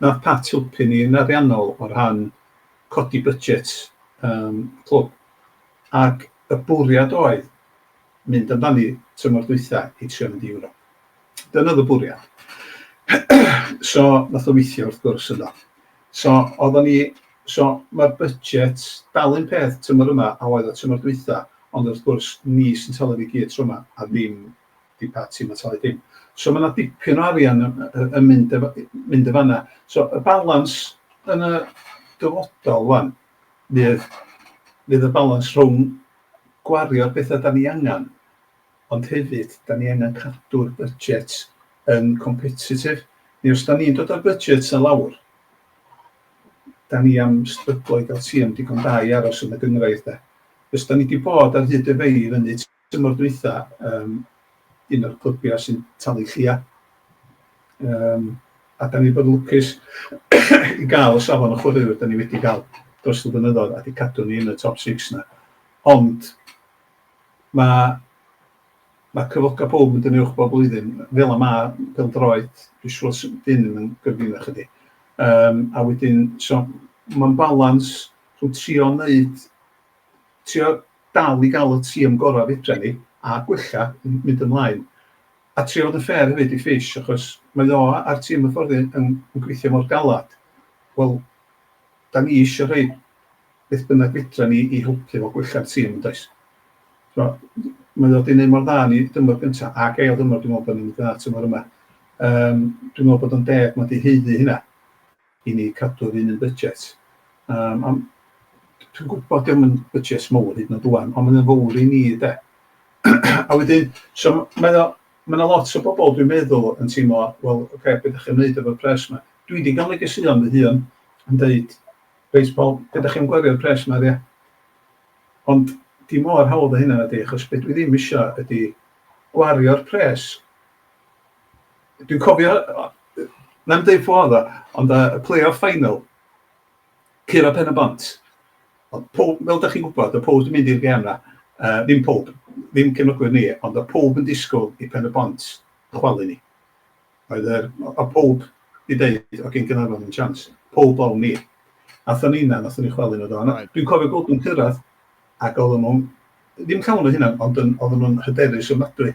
nath Pat helpu ni yn ariannol o rhan codi budget yym y clwb. ac y bwriad oedd mynd amdani tymor dwytha i trio mynd i Ewrop. Dyna oedd y bwriad. so, nath o weithio wrth gwrs yno. So, oeddwn ni, so mae'r budget dal un peth tymor yma a oedd o tymor dwytha, ond wrth gwrs ni sy'n talu ni gyd tro yma a ddim di pa tîm yn talu dim. So mae yna dipyn o arian yn, yn mynd, mynd y fanna. So y balans yn y dyfodol wan, Fydd, fydd y balans rhwng gwario'r pethau 'da ni angen, ond hefyd 'da ni angen cadw'r budget yn competitif. Neu os 'da ni'n dod â'r budget 'na lawr, 'da ni am stryglo i gael tîm digon da i aros yn y gynghrair de. Os 'da ni 'di bod ar hyd y fei i fyny, tymor dwytha yym un o'r clybiau sy'n talu llia yym a 'dan ni'n bod yn lwcus i ga'l y safon o chwaraewyr 'dan ni wedi ga'l dros y blynyddoedd a 'di cadw ni yn y top six 'na ond ma' ma' cyfloga' powb yn dynnu uwch bob blwyddyn fela ma' pêl-droed dwi siŵr s- 'di hyn ddim yn gyfrifol i chdi yym a wedyn so ma'n balans rhwng trio neud trio dal i gael y tîm gorau fedra ni a gwella, mynd ymlaen. A trio fod yn fair hefyd i Fish achos mae o a'r tîm hyfforddi yn gweithio mor galed. Wel, da ni eisiau rhoi beth bynnag fedra ni i helpu fo gwella'r tîm yn does? Mae o wedi gwneud mor dda yn ei dymor gyntaf ac ail dymor dwi'n meddwl bod ni'n mynd yn dda tymor yma. Yym dwi'n meddwl bod o'n deg mae o wedi haeddu hynna. i ni cadw'r un un budget. Yym ond dwi'n gwybod dio'm yn budget mowr hyd yn o'd ŵan ond mae o'n fowr i ni de. a wedyn so mae o mae yna lot o bobl dwi'n meddwl yn teimlo wel ocê be' 'dach chi'n neud efo'r pres 'ma? Dwi 'di ga'l negeseuon fy hun yn deud reit wel be' 'dach chi'n gwario'r pres 'ma ar ia? Ond dim mor hawdd â hynna nadi achos be' dwi ddim isio ydi gwario'r pres Dwi'n cofio, na i'm deud ffordd o, ond y play-off final, Cura Pen y Bont. Ond pob, fel da chi'n gwybod, y pob yn mynd i'r gem na. Uh, ddim pob, ddim cefnogwyr ni, ond y pob yn disgwyl i Pen y Bont chwalu ni. Oedd yr, o pob i ddeud, o gen Gynarfon yn chans, pob o'n ni. Athon ni na, nathon ni chwalu nhw do. Dwi'n cofio gweld nhw'n cyrraedd, ac oedden nhw'n, ddim llawn o hynna, ond oedden nhw'n hyderus ofnadwy.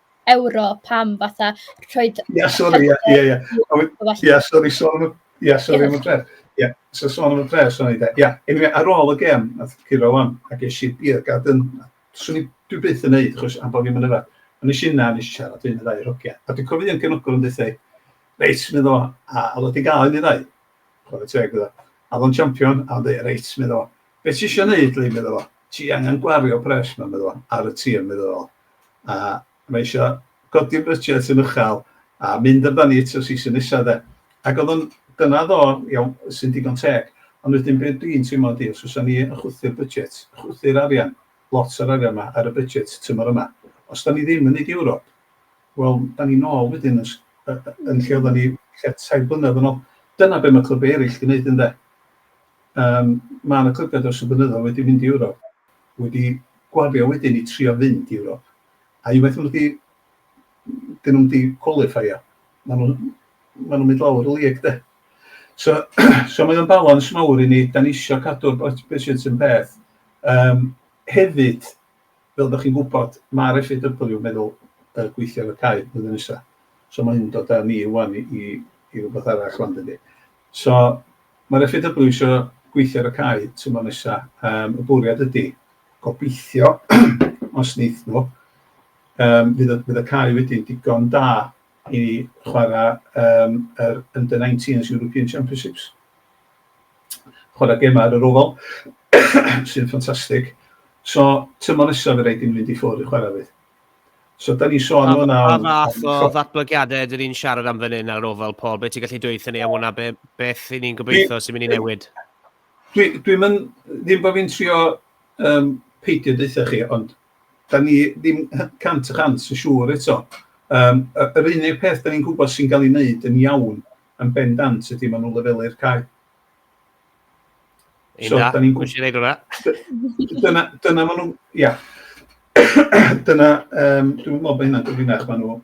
ewro pam fatha rhoi... Ia sori ia ia ia a we- ia sori sôn am y ia sori am y pres ia so sôn am y pres o'n i de ia eniwe ar ôl y gêm nath curo ŵan a ges i beer garden a swn i dwi byth yn neud achos am bo' fi'm yn yfed a nesh i yna a nesh i siarad un neu ddau o'r hogia a dwi'n cofio un cefnogwr yn deutha i reit medda fo a o'dd o 'di ga'l un neu ddau chware teg iddo fo a o'dd o'n champion a o'n deud reit medda fo be' ti isio neud Lee medda fo ti angan gwario pres 'ma medda fo ar y tir medda fo a mae isio codi'r brysiau sy'n uchel a mynd amdani at y season nesa de. Ac oedd o'n... dyna oedd o, iawn, sy'n digon teg. Ond wedyn be dwi'n teimlo ydi os fysa ni yn chwythu'r budget, chwythu'r arian, lot o'r arian 'ma ar y budget tymor yma, os 'da ni ddim yn neud Ewrop, wel, 'da ni nôl wedyn yn yn lle oddan ni tua tair blynedd yn ôl. Dyna be' ma' clybiau eryll 'di neud ynde? Yym ma' 'na clybiau dros y blynyddoedd wedi mynd i Ewrop wedi gwario wedyn i trio fynd i Ewrop, a unwaith ma' nhw 'di... 'dyn nhw'm 'di cwalifeio, ma' nhw... ma' nhw'n mynd lawr y league 'de. So so mae o'n balans mawr i ni, 'dan ni isio cadw'r budgets yn peth. Yym hefyd, fel dach chi'n gwybod, ma'r FAW yn meddwl yy gweithio ar y cae flwyddyn nesa, so ma' hyn yn dod â ni ŵan i i rwbath arall ŵan dydi? So, mae'r FAW isio gweithio ar y cae tymor nesa'. Yym, y bwriad ydi, gobeithio, os neith nhw, yym, fydd y fydd y cae wedyn digon da i chwara' yym yr Under 19s European Championships. Chwara' gema' ar yr Oval, sy'n ffantastig. So, tymor nesa' fydd raid i nhw fynd i ffwr' i chwara' fydd? So, da ni sôn am hwnna... Pa fath o ddatblygiadau ydyn ni'n siarad am fan hyn ar ofal, Paul? Be ti'n gallu dweud ni am hwnna? Be, beth i ni'n gobeithio sy'n mynd i newid? Dwi'n dwi mynd, ddim bod fi'n trio um, peidio deutha chi, ond da ni ddim cant y chant yn siŵr eto. Um, yr unig peth da ni'n gwybod sy'n cael ei wneud yn iawn yn bendant ydy maen nhw'n lefelu'r cae. Ein so, da, da ni'n gwybod wneud hwnna. Dyna, dyna maen nhw, ia. dyna, um, dwi'n meddwl bod hynna'n gyfrinach, maen nhw,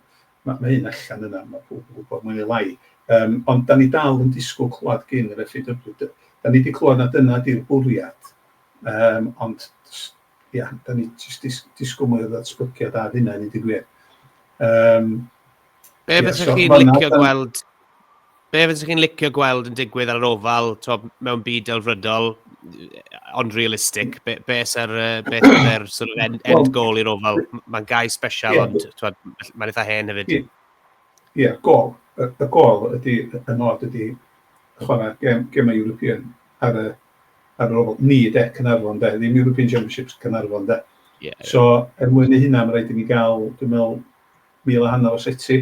mae ma hyn allan yna, mae pob yn gwybod mwy neu lai. Um, ond da ni dal yn disgwyl clywed gyn yr FAW. Da ni wedi clywed na dyna di'r bwriad, um, ond ia, da ni jyst dis- disgwyl mwy o ddatblygiad ar hynna i ddigwydd. gwir. Um, Be yeah, fysych so, chi'n licio na, gweld Be fysych chi'n licio gweld yn digwydd ar yr ofal to, mewn byd delfrydol, ond realistic? Be, be sy'r be er, sort of end, end well, goal i'r ofal? Mae'n gau special, yeah, ond mae'n eitha hen hefyd. Ie, yeah, gol. Y, y gol ydy, y nod ydy chwarae gem, gemau European ar y ar ôl ni de, Caernarfon de, ddim European Championships, Caernarfon de. Yeah, yeah. So, er mwyn ei hynna, mae rhaid i ni gael, dwi'n meddwl, mil a hanner o seti.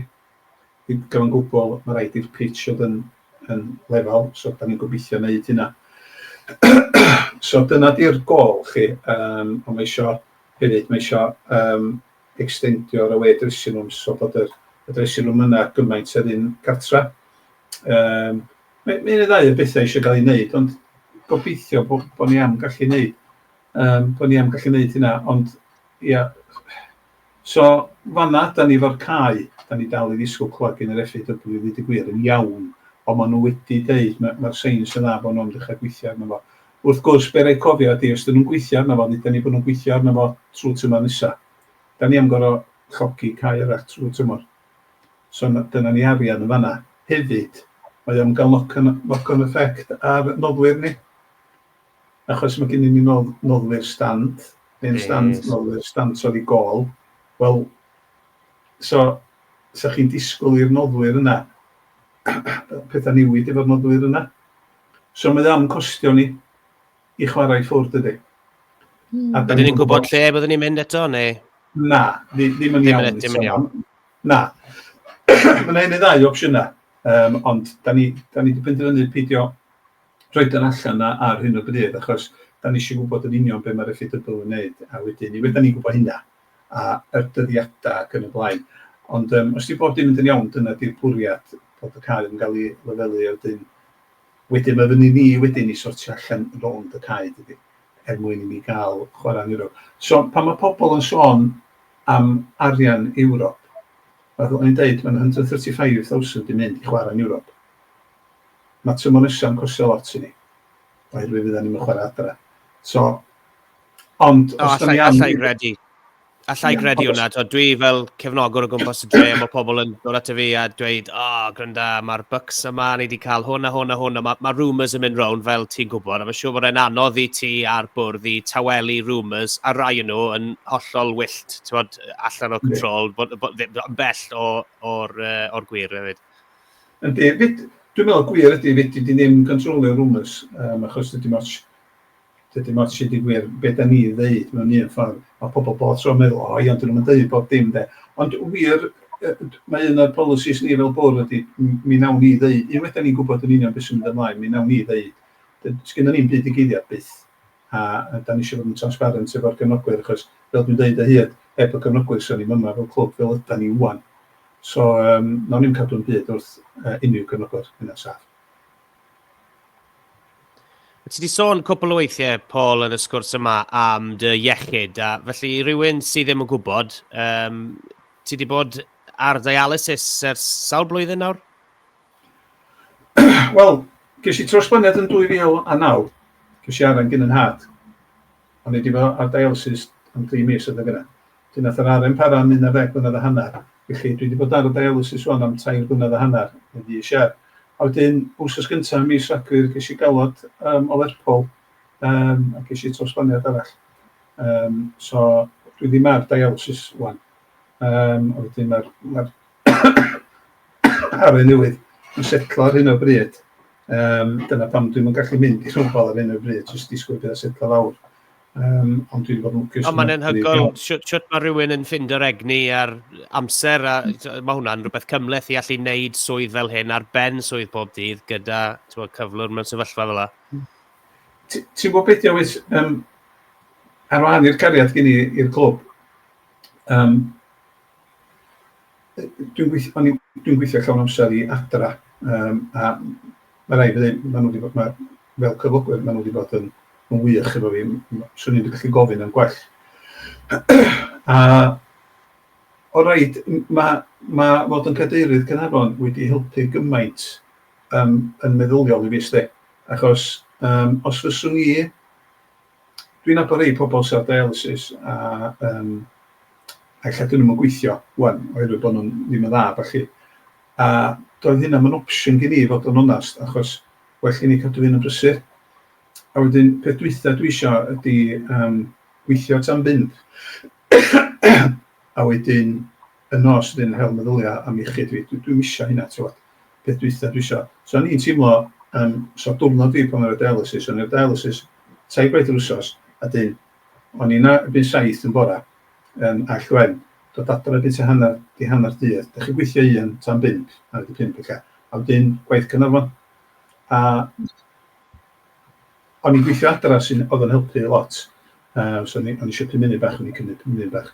I gyfan gwbl, mae rhaid i'r pitch oedd yn, yn lefel, so da ni'n gobeithio wneud hynna. so dyna di'r gol chi, um, ond mae eisiau hefyd, mae eisiau um, extendio'r away dressing rooms, so bod yr, y dressing room yna gymaint yr un cartra. Um, Mae mae un neu ddau o bethau eisiau cael ei wneud, ond gobeithio bod bod ni am gallu wneud yym bod ni am gallu wneud hynna, ond ia so fan'na dan ni efo'r cau, dan ni dal i ddisgwyl clywed gan yr FAW i ddeud y gwir yn iawn, ond maen nhw wedi deud ma' ma'r seins yn dda bod nhw'n dechrau gweithio arno fo. Wrth gwrs be' raid cofio ydy os dan nhw'n gweithio arno fo ddeudon ni bod nhw'n gweithio arno fo trwy tymor nesa, dan ni am gor'o' llogi cau arall trwy tymor. So na- dyna ni arian yn fan'na. Hefyd, mae o yn ga'l knock on knock on effect ar noddwyr ni. Achos ma' gennyn ni nodd- noddwyr stand, hen stand... Yes. ...noddwyr stand torri gôl. Wel, so, 'sa chi'n disgwl i'r noddwyr yna petha newid efo'r noddwyr yna. So mae o yn costio ni. i chwarae ffwrdd dydy. Mm. A Ydyn ni'n gwybod lle byddwn ni'n mynd eto, neu? Na, ddim yn iawn. Ddim yn iawn. Na. Mae'n ein ddau opsiynau, um, ond da ni, da ni wedi penderfynu peidio rhoi dan allan ar hyn o bryd, achos da ni eisiau gwybod yn union beth mae'r effaith dybl yn gwneud, a wedyn ni wedyn ni'n gwybod hynna, a yr dyddiadau ac yn y blaen. Ond um, os di bod dim yn iawn, dyna di'r bwriad bod y cael yn cael ei lefelu a wedyn Wedyn mae fyny ni wedyn i sortio allan rownd y cae dydi? Er mwyn i ni gael chwarae yn Ewrop. So pan mae pobl yn sôn am arian Ewrop, fel o'n i'n deud, mae'n 135,000 yn mynd i chwarae yn Ewrop. Mae tymor nesaf yn costio lot i ni, oherwydd fyddan ni'm yn chwarae adra. So, ond os da ni am... Alla i gredu. Alla i gredu hwnna, twa, dwi fel cefnogwr o gwmpas y dre, mae pobl yn dod at y fi a dweud, o, oh, gwranda, mae'r bucks yma, ni wedi cael hwn a hwn a hwn, a mae ma rumours yn mynd rown fel ti'n gwybod, a mae'n siŵr bod e'n anodd i ti a'r bwrdd i tawelu rumours, a rai yn nhw yn hollol wyllt, ti'n bod, allan o control, bod, bod, bod, bell o'r o, o gwir hefyd. Ydy, dwi'n meddwl gwir ydy, fyd, dwi wedi ddim controlio rumours, um, achos dwi ddim ots Dydim ots i di gwir be da ni ddeud mewn un ffordd, mae pobl bob tro yn meddwl o ia ond dyn nhw'm yn deud bob dim de. Ond wir mae un o'r policies ni fel bwrdd ydi mi nawn ni ddeud, unwaith da ni'n gwybod yn union be sy'n mynd ymlaen mi nawn ni ddeud. Sgynnon ni'm byd i geiriad byth a da ni isio fod yn transparent efo'r gefnogwyr achos fel dwi'n deud o hyd heb y gefnogwyr sa ni'm yma fel clwb fel ydan ni ŵan. So nawn ni'm cadw'n byd wrth unrhyw gefnogwr, hynna'n saff. Ti wedi sôn cwpl o weithiau, Paul, yn y sgwrs yma am dy iechyd, a felly i rywun sydd ddim yn gwybod, um, ti wedi bod ar dialysis ers sawl blwyddyn nawr? Wel, ges i trosblynedd yn 2009, ges i aran gyn yn had, ond wedi bod ar dialysis am 3 mis oedd yn gyda. Felly nath yr aren para am un ar ddeg mlynedd a hanner. Felly dwi 'di bod ar y dialysis ŵan am tair blynedd a hanner, yn fis Iau. A wedyn wsos gynta ym mis Rhagfyr ges i galwad yym o Lerpwl yym a ges i trawsblaniad arall. Yym so dwi ddim ar dialysis ŵan. Yym a wedyn ma'r ma'r aren newydd yn setlo ar hyn o bryd. Yym dyna pam dwi'm yn gallu mynd i rhyfel ar hyn o bryd, jyst disgwyl i petha setlo lawr. Um, ond dwi'n bod yn lwcus... Ond mae'n enhygol sut mae rhywun yn ffind yr egni a'r amser, a mae hwnna'n rhywbeth cymleth i allu wneud swydd fel hyn ar ben swydd pob dydd gyda bod, cyflwr mewn sefyllfa fel yna. Ti'n gwybod beth yw, um, ar wahan i'r cariad gen i i'r clwb, um, dwi'n gweithio, dwi gweithio llawn amser i adra, um, a ma' raid fi ddeud, ma' nhw wedi bod, ma', fel cyflogwyr, ma' nhw wedi bod yn, yn wych efo fi. M- Swn i wedi gallu gofyn am gwell. A o rhaid, m- ma' ma' fod yn cadeirydd Caernarfon wedi helpu gymaint yym yn meddyliol i fi 'sdi. Achos yym os fyswn i dwi'n nabod rhai pobl sydd ar dialysis a yym a ella 'dyn nhw'm yn gweithio ŵan oherwydd bod nhw ddim yn dda a ballu. A doedd hynna 'm yn opsiwn gen i i fod yn onast achos well gen i cadw fy hun yn brysur. A wedyn peth dwytha dwi isio ydi yym gweithio tan fynd a wedyn y nos ydyn yn hel meddylia am iechyd fi dwi dwi'm isio hynna t'wod peth dwytha dwi isio so o'n i'n teimlo yym so diwrnod fi pan o'n i ar dialysis o'n i ar dialysis tair gwaith yr wsos a dyn o'n i 'na erbyn saith yn bora yym a llwen dod adra erbyn tua hanner di hanner dydd dych chi'n gweithio un tan bump hanner di pump ella a wedyn gwaith Caernarfon a o'n i'n gweithio adra sy'n oedd yn helpu lot uh, so o'n i, eisiau pum munud bach o'n i'n cymryd pum munud bach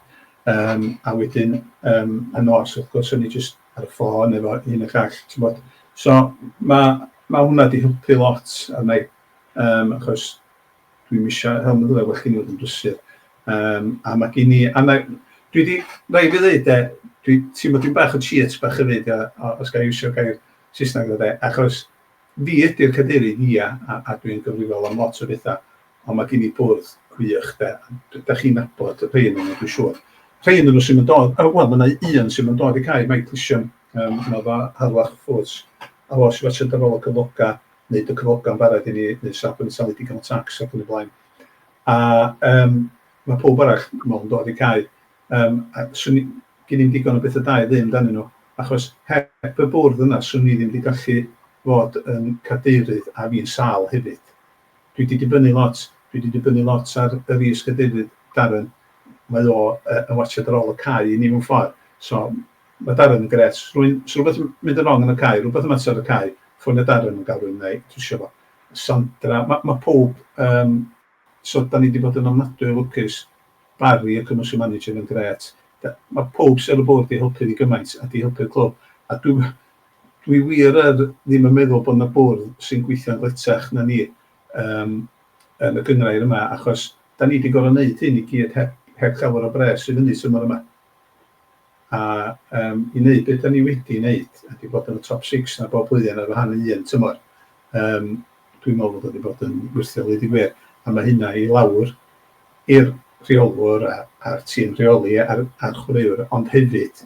um, a wedyn um, y nos wrth gwrs o'n i jyst ar y ffôn efo un y llall ti'n bod so mae ma hwnna di helpu lot a mae um, achos dwi'n eisiau help yn ddweud bod chi'n fod yn brysur um, a mae gen i a mae dwi di rai fi ddweud e dwi ti'n bod dwi'n bach o cheat bach hefyd os gael iwsio gair Saesneg o de achos Fi ydi'r cadeirydd, ia, a a dwi yn gyfrifol am lot o betha, ond ma' gin i bwrdd gwych, 'de, a d- dach chi'n nabod rhei o'nyn nhw, dwi'n siŵr. Rhei o'nyn nhw sy'm yn dod, yy, wel, ma' 'na u- un sy'm yn dod i cau, Mike Lisham, yym, ma' fo ar wal ffwrdd, a fo sy wastad ar ôl y cyfloga', neud y cyfloga'n barod i ni, neu saf bo' ni'n talu digon o tax ac yn y blaen. A, yym, ma' powb arall, dwi'n me'wl, yn dod i cau. Yym, a 'swn i... gin i'm digon o betha da i ddeu amdanyn nhw, achos heb y bwrdd yna 'swn i ddim 'di gallu fod yn cadeirydd, a fi'n sâl hefyd. Dwi 'di dibynnu lot, dwi 'di dibynnu lot ar yr is-gadeirydd, Darren. Mae o yy yn watsiad ar ôl y cae i ni mewn ffordd. So, ma' Darren yn grêt. Os rywun... os rywbeth yn mynd yn rong yn y cae, rywbeth yn mater ar y cae, ffonio Darren, ma'n galw i mi, wna i drwsio fo. Sandra, ma' ma' powb yym... So 'da ni 'di bod yn ofnadwy o lwcus. Barry, y Commercial Manager, mae'n grêt. Da- mae pawb sy ar y bwrdd 'di helpu ni gymaint a 'di helpu'r clwb. A dwi w- dwi wir yr ddim yn meddwl bod 'na bwrdd sy'n gweithio'n gletach na ni yym yn y gynghrair yma achos 'da ni 'di gorfod 'neud hyn i gyd heb heb llawer o bres i fyny tymor yma. a yym i wneud be dan ni wedi wneud ydy bod yn y top six na bob blwyddyn ar wahân i un tymor. Yym dwi'n meddwl bod o wedi bod yn wyrthiol ddeud y gwir a mae hynna i lawr i'r rheolwr a, a'r tîm rheoli a'r, a'r chwaraewr ond hefyd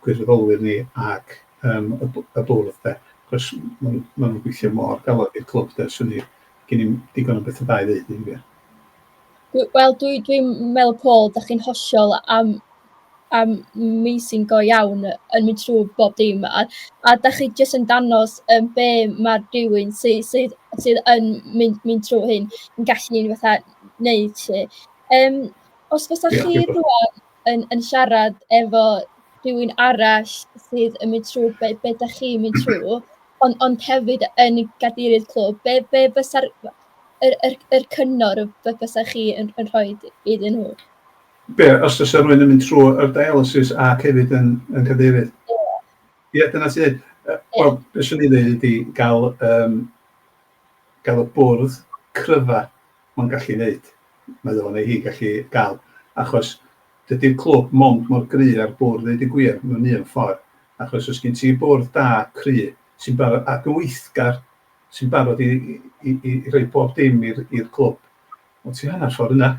gwirfoddolwyr ni ac um, y, y bwrdd de. Cos maen nhw'n gweithio mor galed i'r clwb de, swn i gen i'n digon o bethau da i ddeud i'n gwir. Dwi, wel, dwi dwi'n meddwl, Paul, dach chi'n hollol am- amazing go iawn yn mynd trwy bob dim, a a dach chi jyst yn dangos yym be ma' rywun sy sydd sydd yn mynd mynd trwy hyn yn gallu fatha wneud 'lly. Yym, os fysa chi rŵan yn yn siarad efo rhywun arall sydd yn mynd trwy be be dach chi'n mynd trwy, ond ond hefyd yn gadeirydd clwb, be be fysa'r... yr yr yr cyngor y bysa chi yn yn rhoi iddyn nhw? Be, os fysa rhywun yn mynd trwy yr dialysis ac hefyd yn yn cadeirydd? Ie. Ie, dyna ti ddeud. Yy wel, be swn i'n ddeud ydi ga'l yym ga'l y bwrdd cryfa ma'n gallu neud, mae o neu hi gallu ga'l, achos dydi'r clwb mond mor gry â'r bwrdd ddeud y gwir, mewn un ffor, achos os gin ti bwrdd da, cry, sy'n bara- ac yn weithgar, sy'n barod i i i i i roi bob dim i'r i'r clwb. Wel ti hanner ffordd yna.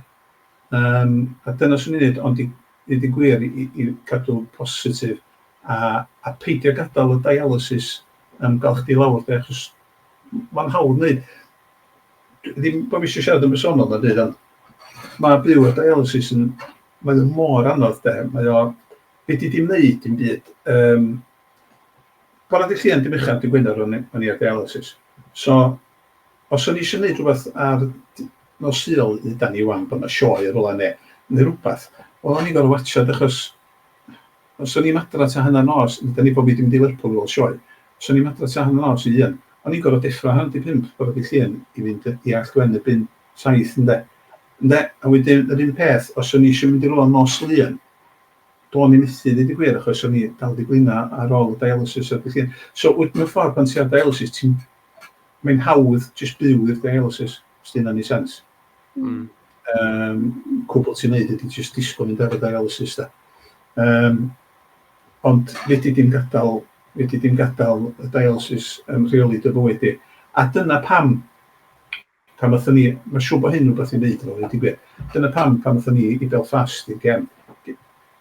Yym a dyna swn i'n neud ond i ddeud yn gwir i i gadw'n positif a a peidio gadal y dialysis yym ga'l chdi lawr de achos m- ma'n hawdd neud. D- ddim bo' fi isio siarad yn bersonol na byd ond ma' byw â dialysis yn mae o mor anodd de mae o fedri di'm neud dim byd yym Bore da chi, yn dim uchaf dy Gwener o'n i ar dialysis. So, os o'n i eisiau neud rhywbeth ar nos Sul, hyd da ni wan bod na sioe yn rwla ne, neu rwbath, wel o'n i'n gorfod watsiad achos os o'n i'm adra ta hanner nos, hyd da ni bo fi di mynd i Lerpwl i weld sioe, os o'n i'm adra ta hanner nos i un, o'n i'n gorfod deffro hanner di pump bore dy Llun i fynd i Allt Gwen erbyn saith ynde. Ynde, a wedyn yr un peth os o'n i eisiau mynd i rwla nos Lun, Do'n i methu deud y gwir achos o'n i dal 'di blino ar ôl y dialysis a felly so wyt mewn ffordd pan ti ar dialysis ti'n mae'n hawdd jyst byw i'r dialysis os dyna'n ei sens. Mm. Um, cwbl ti'n neud ydy jyst disgwyl mynd ar y dialysis da. Um, ond wedi dim gadael wedi dim gadael y dialysis yn rheoli dy fywyd di. A dyna pam Pan aethon ni, mae'n siŵr bod hyn yn rhywbeth i wneud efo fo, ddeud y gwir. Dyna pam, pan aethon ni i Belfast i'r gem,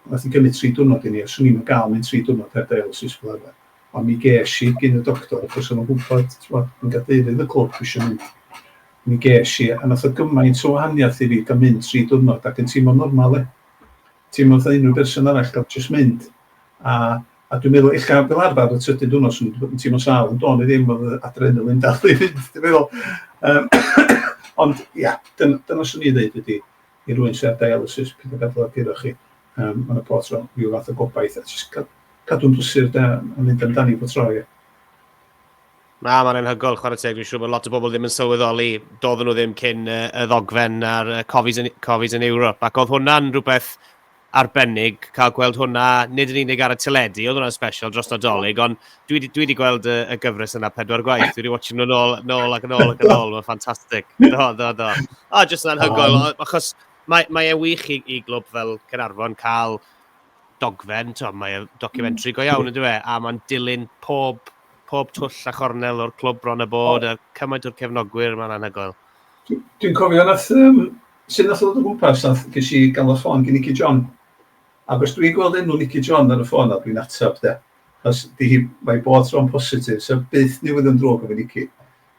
wnaeth hi gymryd tri diwrnod i ni, a 'swn i'm yn gael mynd tri diwrnod heb dialysis fel arfer. Ond mi ges i, gyn y doctor, achos oedd o'n gwybod, timod, yn gadeirydd y clwb, dwi eisiau mynd. Mi ges i, a wnaeth o gymaint o wahaniaeth i fi gael mynd tri diwrnod ac yn teimlo'n normal, e. Ti'n meddwl fatha unrhyw berson arall gorfod jyst mynd a a dwi'n meddwl ella fel arfer ar y trydydd diwrnod swn i 'di bod yn teimlo'n sâl ond do'n i ddim o'dd yr adrenaline dal i fynd ti'n meddwl yym ond ia dyn- dyna swn i'n ddeud ydi i rywun sy ar dialysis peidio gadal o guro chi yym ma' 'na pob tro ryw fath o gobaith a jyst ca- cadw'n brysur de a mynd amdani bob tro ia. Na, mae'n anhygoel, chwarae teg. Dwi'n siŵr bod lot o bobl ddim yn sylweddoli. Doedden nhw ddim cyn y ddogfen a'r cofis yn, cofis yn Ewrop. Ac oedd hwnna'n rhywbeth arbennig cael gweld hwnna, nid yn unig ar y teledu, oedd hwnna'n special dros Nadolig, ond dwi wedi, dwi wedi gweld y, y gyfres yna pedwar gwaith. Dwi wedi watch nhw'n ôl, nôl ac yn ôl ac yn ôl. Mae'n ffantastig. Do, do, do. O, jyst yn anhygoel, achos mae, mae e wych i, i glwb fel Cynarfon cael dogfen, tibod, mae o'n documentary go iawn, ynddo fe, a mae'n dilyn pob, pob twll a chornel o'r clwb bron a bod, a cymaint o'r cefnogwyr, mae'n anhygoel. Dwi'n cofio nath, um, sy'n nath ddod o gwmpas, nath ges i gael y ffôn gen Nicky John. Ac os dwi'n gweld enw Nicky John ar y ffôn a dwi'n ateb de, chos di hi, mae bod tro'n positif, so byth ni wedi yn drwg efo Nicky.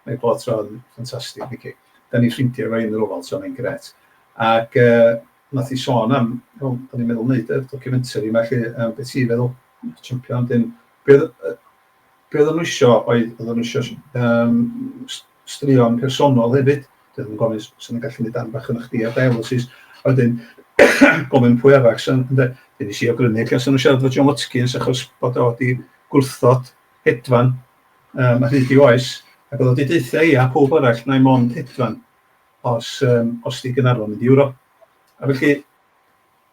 Mae bod tro'n ffantastig, Nicky. Da ni ffrindiau efo un yn rofal, so mae'n gret. Ac uh, wnaeth hi sôn am, wel, o'n i'n meddwl wneud yr documentary yma lle, um, beth ti'n feddwl, champion, dyn, be oedden nhw isio oedd, oedden nhw isio um, straeon personol hefyd, dyn nhw'n gofyn sy'n yn gallu gwneud dan bach yn eich di ar dialysis, a wedyn gofyn pwy arach sy'n, ynddo, dyn ni si o grynu, lle sy'n nhw siarad fod John Watkins achos bod o wedi gwrthod hedfan um, a hyd i oes, ac oedd o wedi deutha i a pob arall na i mond hedfan. os yym os 'di Gaernarfon mynd i Ewro. A felly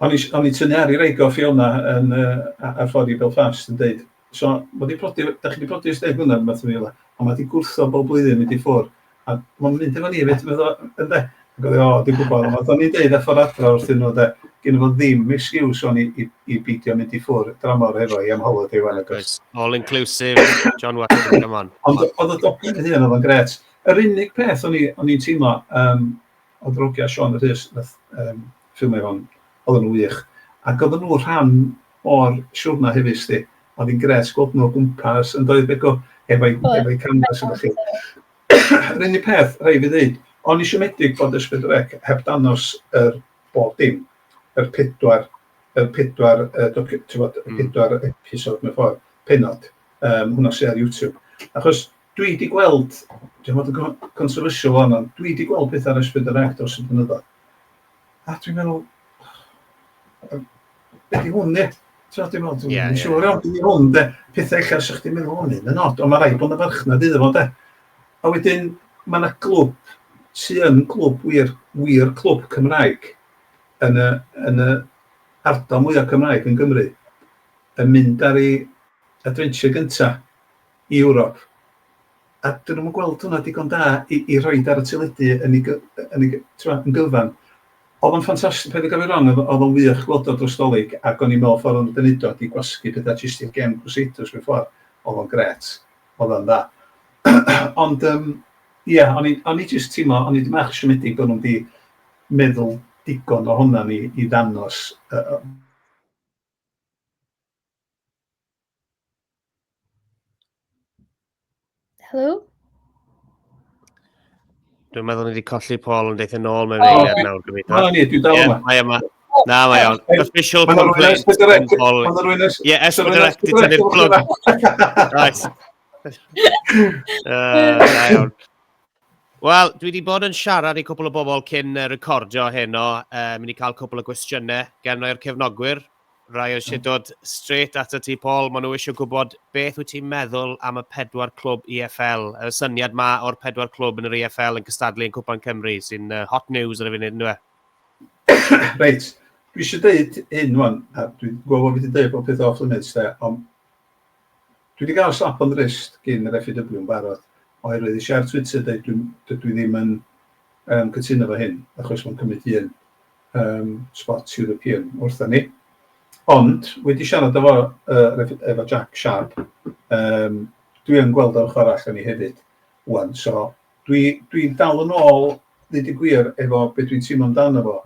o'n i o'n i'n tynnu ar i wraig o Fiona yn yy a- ar ffordd i Belfast yn deud so ma' 'di prodi 'dach chi 'di prodi ers deg mlynedd rwbath efo Ffiona a ma' 'di gwrthod bob blwyddyn mynd i ffwr' a ma'n mynd efo ni efyd medda fo ynde? Ag o'dd 'i o dwi'n gwbod ond nath o'n i deud ar ffor adra wrthyn nhw de gynno fo ddim excuse ŵan i i i beidio mynd i ffwr' dramor hefo hi am holiday ŵan nag oes? All inclusive John Watson come on. Ond o'dd y dogfen ei hun o'dd o'n grêt. Yr unig peth o'n i o'n i'n teimlo yym o Drogia, Siôn a Rhys nath yym ffilmio hwn, oedden nhw'n wych, ac oedden nhw'n rhan o'r siwrna hefyd sdi, oedd hi'n gret gweld nhw o gwmpas yn doedd Begw efo'i efo'i camera sydd felly. Yr unig peth rhaid fi ddeud, o'n i siomedig bod Ysbyty y Rec heb dangos yr bob dim, yr pedwar yr pedwar yy docu- t'mod y pedwar episode mewn ffordd, pennod, yym hwnna sy ar YouTube achos Dwi wedi gweld, dwi am fod yn controversial wan, ond dwi wedi gweld pethau ar S4C dros y blynyddoedd. A dwi'n meddwl, be di hwn, ie? Ti'n dwi'n meddwl, dwi'n siŵr iawn, dwi'n hwn, de, pethau eich ar sy'ch ti'n meddwl hwn yn od, ond mae rhaid bod yn farchnad iddo fo, de. A wedyn, mae yna glwb sy'n yn glwb wir, wir clwb Cymraeg yn y, yn y ardal mwyaf Cymraeg yn Gymru, yn mynd ar ei adventure gyntaf i Ewrop, a dyn nhw'm yn gweld hwnna digon da i i rhoid ar y teledu yn ei gy- yn ei gy- t'mo' yn gyfan. O'dd o'n ffantasti- paid a ga'l fi wrong o'dd o o'dd o'n wych gweld o dros 'Dolig ac o'n i'n me'wl ffor' o'n nhw 'di neud o ydi gwasgu petha jyst i'r gem Crusaders mewn ffor'. O'dd o'n grêt. O'dd o'n dda. Ond yym ia o'n i o'n i jyst teimlo o'n i dipyn bach siomedig bo' nhw'm 'di meddwl digon ohonan ni i ddanos yy yy Helo? Dwi'n meddwl ni wedi colli Paul yn deithio nôl mewn eiliad nawr, gobeithio. Na, ni, dwi'n dal yma. Mae yma. Na, mae iawn. Official complaint. Mae'n rwy'n Paul. Mae'n rwy'n esbyd Ie, esbyd yr ect i tynnu'r plwg. Right. Na iawn. Wel, dwi wedi bod yn siarad i cwpl o bobl cyn recordio heno. Uh, mynd i cael cwpl o gwestiynau gen o'r cefnogwyr. Rai eisiau hmm. dod straight at y ti, Paul. Maen nhw eisiau gwybod beth wyt ti'n meddwl am y pedwar clwb EFL. Y syniad ma o'r pedwar clwb yn yr EFL yn cystadlu yn Cwpan Cymru, sy'n uh, hot news ar y funud, ynddo e? Reit, dwi eisiau dweud hyn wan, a dwi'n gwybod bod fi wedi dweud bod pethau off limits, de, ond Dwi 'di gael slap on the wrist gin yr FAW yn barod, oherwydd es i ar Twitter deud dwi dydw i ddim yn yym cytuno efo hyn, achos mae'n cymryd un yym spot European wrthon ni. Ond, wedi siarad efo yy efo Jack Sharp, yym dwi yn gweld yr ochr arall o'n i hefyd ŵan, so dwi dwi'n dal yn ôl, ddeud y gwir, efo be dwi'n teimlo amdano fo,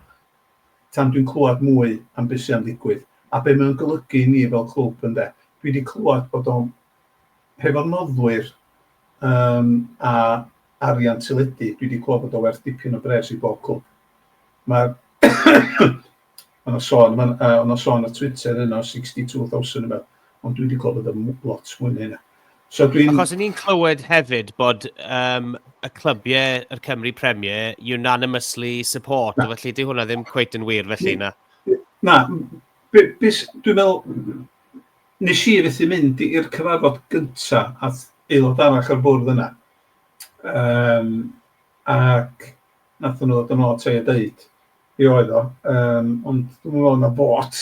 tan dwi'n clywed mwy am be sy am ddigwydd a be mae o'n golygu i ni fel clwb ynde. Dwi wedi clywed bod o hefo'r noddwyr yym a arian teledu dwi wedi clywed bod o werth dipyn o bres i bob clwb. Mae'r Mae 'na sôn ma'n yy o' 'na sôn ar Twitter heno 62,000 neu beth ond dwi wedi clywed bod o'n lot mwy na hynna. So dwi'n... Achos ni'n clywed hefyd bod um, y clybiau, yr Cymru Premier, unanimously support, na. felly di hwnna ddim cweit yn wir felly na. Na, dwi'n meddwl, nes i fethu mynd i'r cyfarfod gyntaf at aelod arall o'r bwrdd yna. Um, ac nath nhw ddod yn ôl te a dweud, be oedd o, um, ond dwi'n meddwl na bot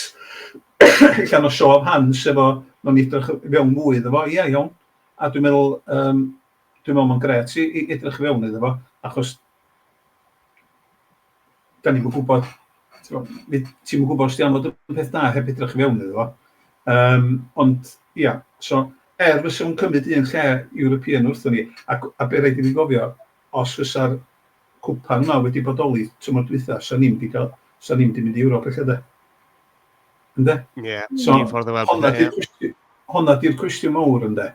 allan o siof hans efo, mae'n edrych fewn mwy iddo fo, ia, iawn. A dwi'n meddwl, um, dwi'n meddwl mae'n gret i, i edrych fewn iddo fo, achos da ni'n gwybod, ti'n gwybod os di am fod yn peth da heb edrych fewn iddo fo. Um, ond, ia, so, er fysa nhw'n cymryd un lle European wrthyn ni, a, a be rhaid i ni gofio, os fysa'r cwpan ma wedi bodoli tymor dwytha, sa ni'm di ca'l, sa ni'm di mynd i Ewrop ella de? Ynde? Ie, so, un ffordd o weld honna di'r cwestiwn, honna di'r cwestiwn mawr ynde?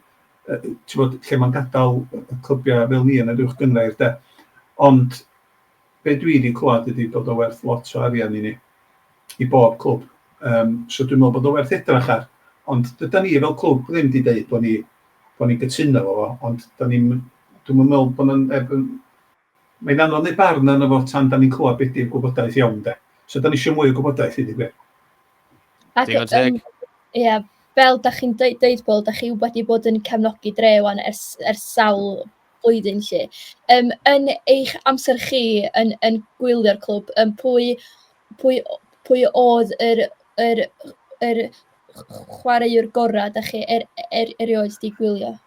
Uh, ti'n bod, lle mae'n gadael y clybiau fel ni yn yr uwch gyngrair de? Ond, be dwi wedi clywed ydy bod o werth lot o arian i ni, i bob clwb. Um, so dwi'n meddwl bod o werth edrach ar, ond dyda ni fel clwb ddim wedi dweud bod ni, bod ni'n gytuno fo, ond da ni'n, dwi'n meddwl bod yna neb yn Mae'n anodd neud barn arno fo tan dan ni'n clywed be di'r gwybodaeth iawn de. So dan ni isio mwy o gwybodaeth i di gwir. Ac Digon teg. Ia, fel da chi'n deud, deud Paul, da chi wedi bod yn cefnogi dre wan ers, ers sawl blwyddyn lle. Um, yn eich amser chi yn, yn gwylio'r clwb, um, pwy, pwy, pwy oedd yr, yr, yr chwaraewr gorau da chi er, er, erioed di gwylio?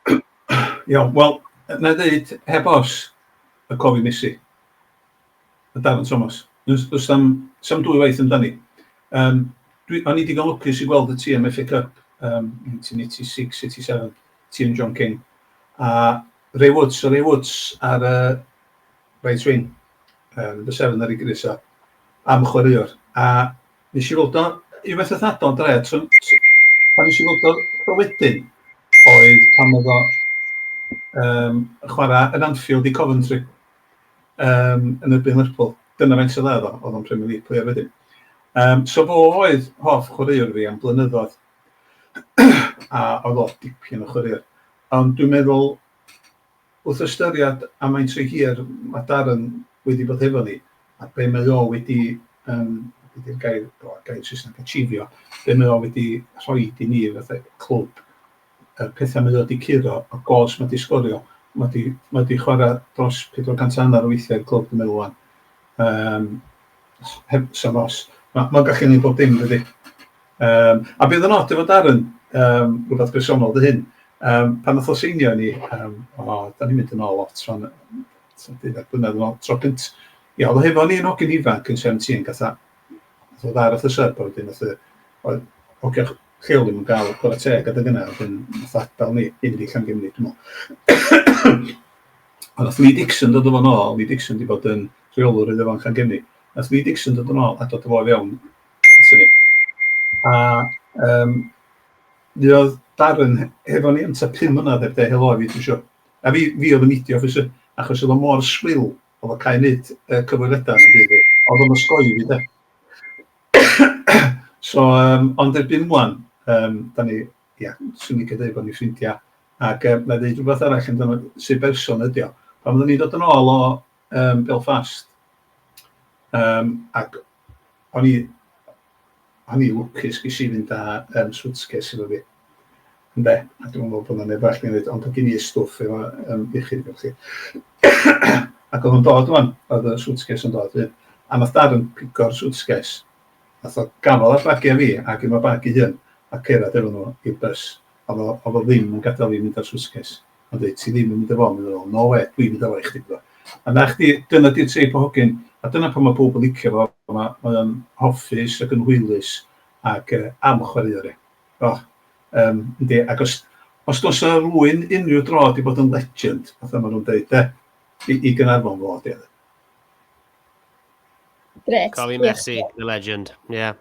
Iawn, wel, na i ddeud, heb os, y cof i Messi. Y darn Thomas. Does sam, sam dwy waith amdani. Um, dwi, o'n i digon lwcus i gweld y tîm FA Cup um, 1986, 87, tîm John King. A Ray Woods, Ray Woods ar y uh, right wing, um, the seven ar ei gris a am chwaraewr. A Nes i weld o unwaith wrth adael yn dre, tro pan nes i weld o tro wedyn oedd pan oedd o um, yn chwarae yn Anfield i Coventry um, yn erbyn Lerpwl. Dyna fe'n sydd oedd o, oedd o'n Premier League player wedyn. Um, so fo oedd hoff chwaraewr fi am blynyddoedd, a oedd o dipyn o chwaraewr. Ond dwi'n meddwl, Wrth ystyried am faint o hir mae Darren wedi bod hefo ni, a be mae o wedi, yym, be di'r gair, o, gair Saesneg, achievio, be mae o wedi rhoi i ni fatha clwb, y pethau mae o wedi curo, y gôls mae o wedi sgorio, mae o wedi, mae o wedi chwarae dros 400 a hanner o weithiau i'r clwb dwi'n meddwl ŵan, yym, heb, 'sam os. Mae o'n gallu gwneud bob dim dydi? Yym, a bydd yn od efo Darren, yym, rwbath bersonol 'di hyn, yym, pan nath o seinio i ni, yym, o, 'dan ni'n mynd yn ôl lot rŵan, yym, tua deuddag blynedd yn ôl, tro cynt-, ia, o'dd o hefo ni yn hogyn ifanc yn seventeen, gath a- nath o ddod ar wrth y sub a wedyn nath y oedd hogia ch- lleol ddim yn ga'l chwara teg adeg yna, wedyn nath o adal ni i fynd i Llangemni dwi me'wl. A nath Lee Dixon dod â fo'n ôl, Lee Dixon 'di bod yn rheolwr Iddo Fo yn Llangemni, nath Lee Dixon dod yn ôl a dod â fo i fewn A yym mi oedd Darren hefo ni am tua pum mlynedd heb ddeud helo i fi dwi isio. A fi fi oedd yn neidio achos yy achos oedd o mor swil, oedd o'n cael ei wneud yy cyfweliadau yn y byd, oedd o'n osgoi i fi de. so yym ond erbyn ŵan yym dan ni ia, 'swn i'n licio deud bod ni'n ffrindiau ac yy wna i ddeud rywbeth arall amdano sut berson ydy o. Pan oedden ni'n dod yn ôl o yym Belfast yym ac o'n i o'n i'n lwcus ges i fynd â yym swtces efo fi ynde, a dwi'm yn meddwl bod 'na neb arall 'di neud ond oedd gen i stwff efo yym iechyd efo chi ac oedd o'n dod ŵan, oedd y swtces yn dod fyd a wnaeth Darren pigo'r swtces wnaeth o gafael ar llagiau fi ac un o'r bag ei hun a cerdded efo nhw i'r bys, oedd o oedd o ddim yn gadael fi mynd â'r swtces. Mae'n dweud, ti ddim yn mynd â fo. Mae'n meddwl, no wê, dwi'n mynd â fo i chdi. A 'na chdi, dyna 'di'r teip o hogyn. A dyna pam mae pawb yn licio fo. Mae o'n hoffus ac yn hwylus ac am chwaraeon e. O, yym, yndi. Ac os os oes 'na rywun unrhyw dro 'di bod yn legend, fatha maen nhw'n deud de, i Gaernarfon, fo 'di o de. Gret. Cofi Messi, the legend. Yeah.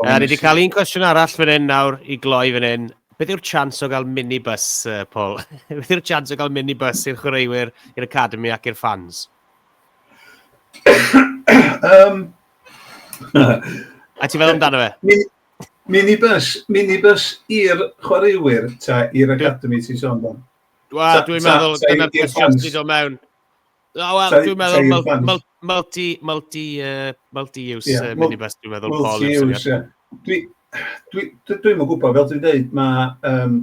Uh, ni wedi cael un cwestiwn arall fan hyn nawr i gloi fan hyn. Beth yw'r chance o gael minibus, uh, Paul? Beth yw'r chance o gael minibus i'r chwaraewyr, i'r academy ac i'r fans? um, A ti fel amdano fe? Minibus, minibus i'r chwaraewyr, ta, i'r academy ti'n sôn dan? Wel, dwi'n meddwl, dyna'r cwestiwn sydd o mewn. O, wel, Sorry, dwi'n meddwl sorry, mul- plant. mul- multi, multi, uh, multi-use Ie, yeah, mul- minibus, dwi'n meddwl, Paul, yw'r Multi-use, syniad. ie. Dwi, dwi, dwi, dwi'm yn gwybod, fel dwi'n dweud, mae, um,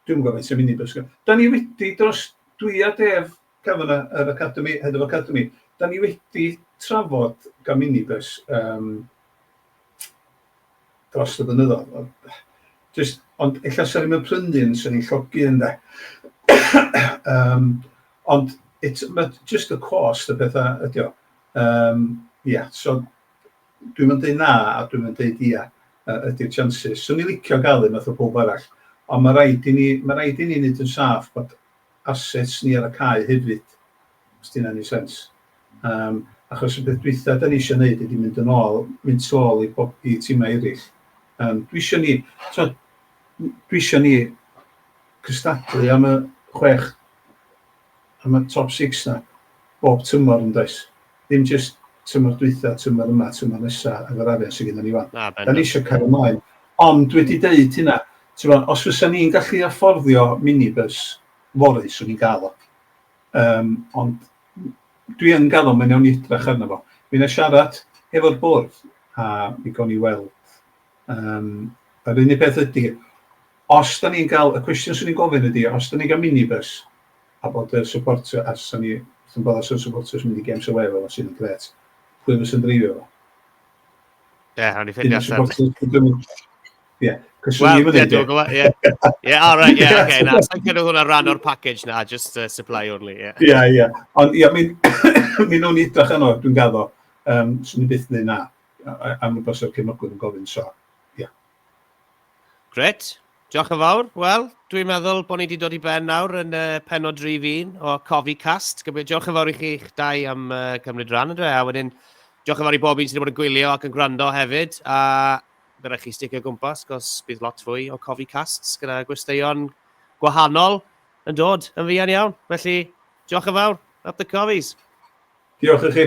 dwi'n gwybod faint o minibus. gyda- Da ni wedi dros, dwi a Def Cavanagh, yr Academy, Head of Academy, da ni wedi trafod gan minibus um, dros y blynyddoedd. Ond, Just, ond ella sy'n ni'n prynu un sy'n ni'n llogi yn de. um, Ond it's... mae jyst y cost y pethau ydy o. Yym, ia, so dwi'm yn deud na a dwi'm yn deud ia ydy'r chances. 'Swn i'n licio gael un fatha pawb arall, ond ma' raid i ni... ma' raid i ni wneud yn saff bod assets ni ar y cae hefyd, os 'di hynna'n 'neud sense. Yym, achos y peth dwytha 'dan ni isio 'neud ydy mynd yn ôl, mynd tu ôl i bob- i timau eraill. Yym, dwi isio ni, t'mod, dwi isio ni cystadlu am y chwech Am y top six 'na, bob tymor yn does? Ddim jyst tymor dwytha, tymor yma, tymor nesa efo'r arian sy gynnon ni wan. Na, bendant. 'Da ni isio cario mlaen. Ond dwi 'di deud hynna, t'mo, os fysan ni'n gallu afforddio minibus fory, 'swn i'n ga'l o. Yym, ond dwi yn ga'l o, mi newn ni edrach arno fo. Mi 'na i siarad hefo'r bwrdd, a mi gown ni weld Um, yr unig beth ydy, os da ni'n cael, y cwestiwn sy'n ni'n gofyn ydy, os da ni'n cael minibus, a bod y supportio, a sy'n ni, sy'n bod os y supportio sy'n mynd i gem sy'n wefel, os sy'n gret, pwy fes yn dreifio fo? Ie, yeah, hwn i ffeindio allan. Ie, cyswn ni'n mynd i. Ie, ie, all right, ie, oce, na, sy'n cynnig hwnna rhan o'r package na, just uh, supply only, ie. Ie, ie, ond ie, mi'n o'n i drach yno, dwi'n gaddo, um, sy'n ni'n byth yn dweud na. am y bysau'r cefnogwyr yn gofyn, so, ie. Yeah. Gret, diolch yn fawr. Wel, dwi'n meddwl bod ni wedi dod i ben nawr yn uh, penod drif un o Cofi Cast. Diolch yn fawr i chi eich dau am uh, cymryd rhan yn dweud, a wedyn diolch yn fawr i bob un sydd wedi bod yn gwylio ac yn gwrando hefyd, a fe rhaid chi sticio gwmpas, gos bydd lot fwy o Cofi Casts gyda gwesteion gwahanol yn dod yn fuan iawn. Felly, diolch yn fawr, up the Cofies. Diolch i chi.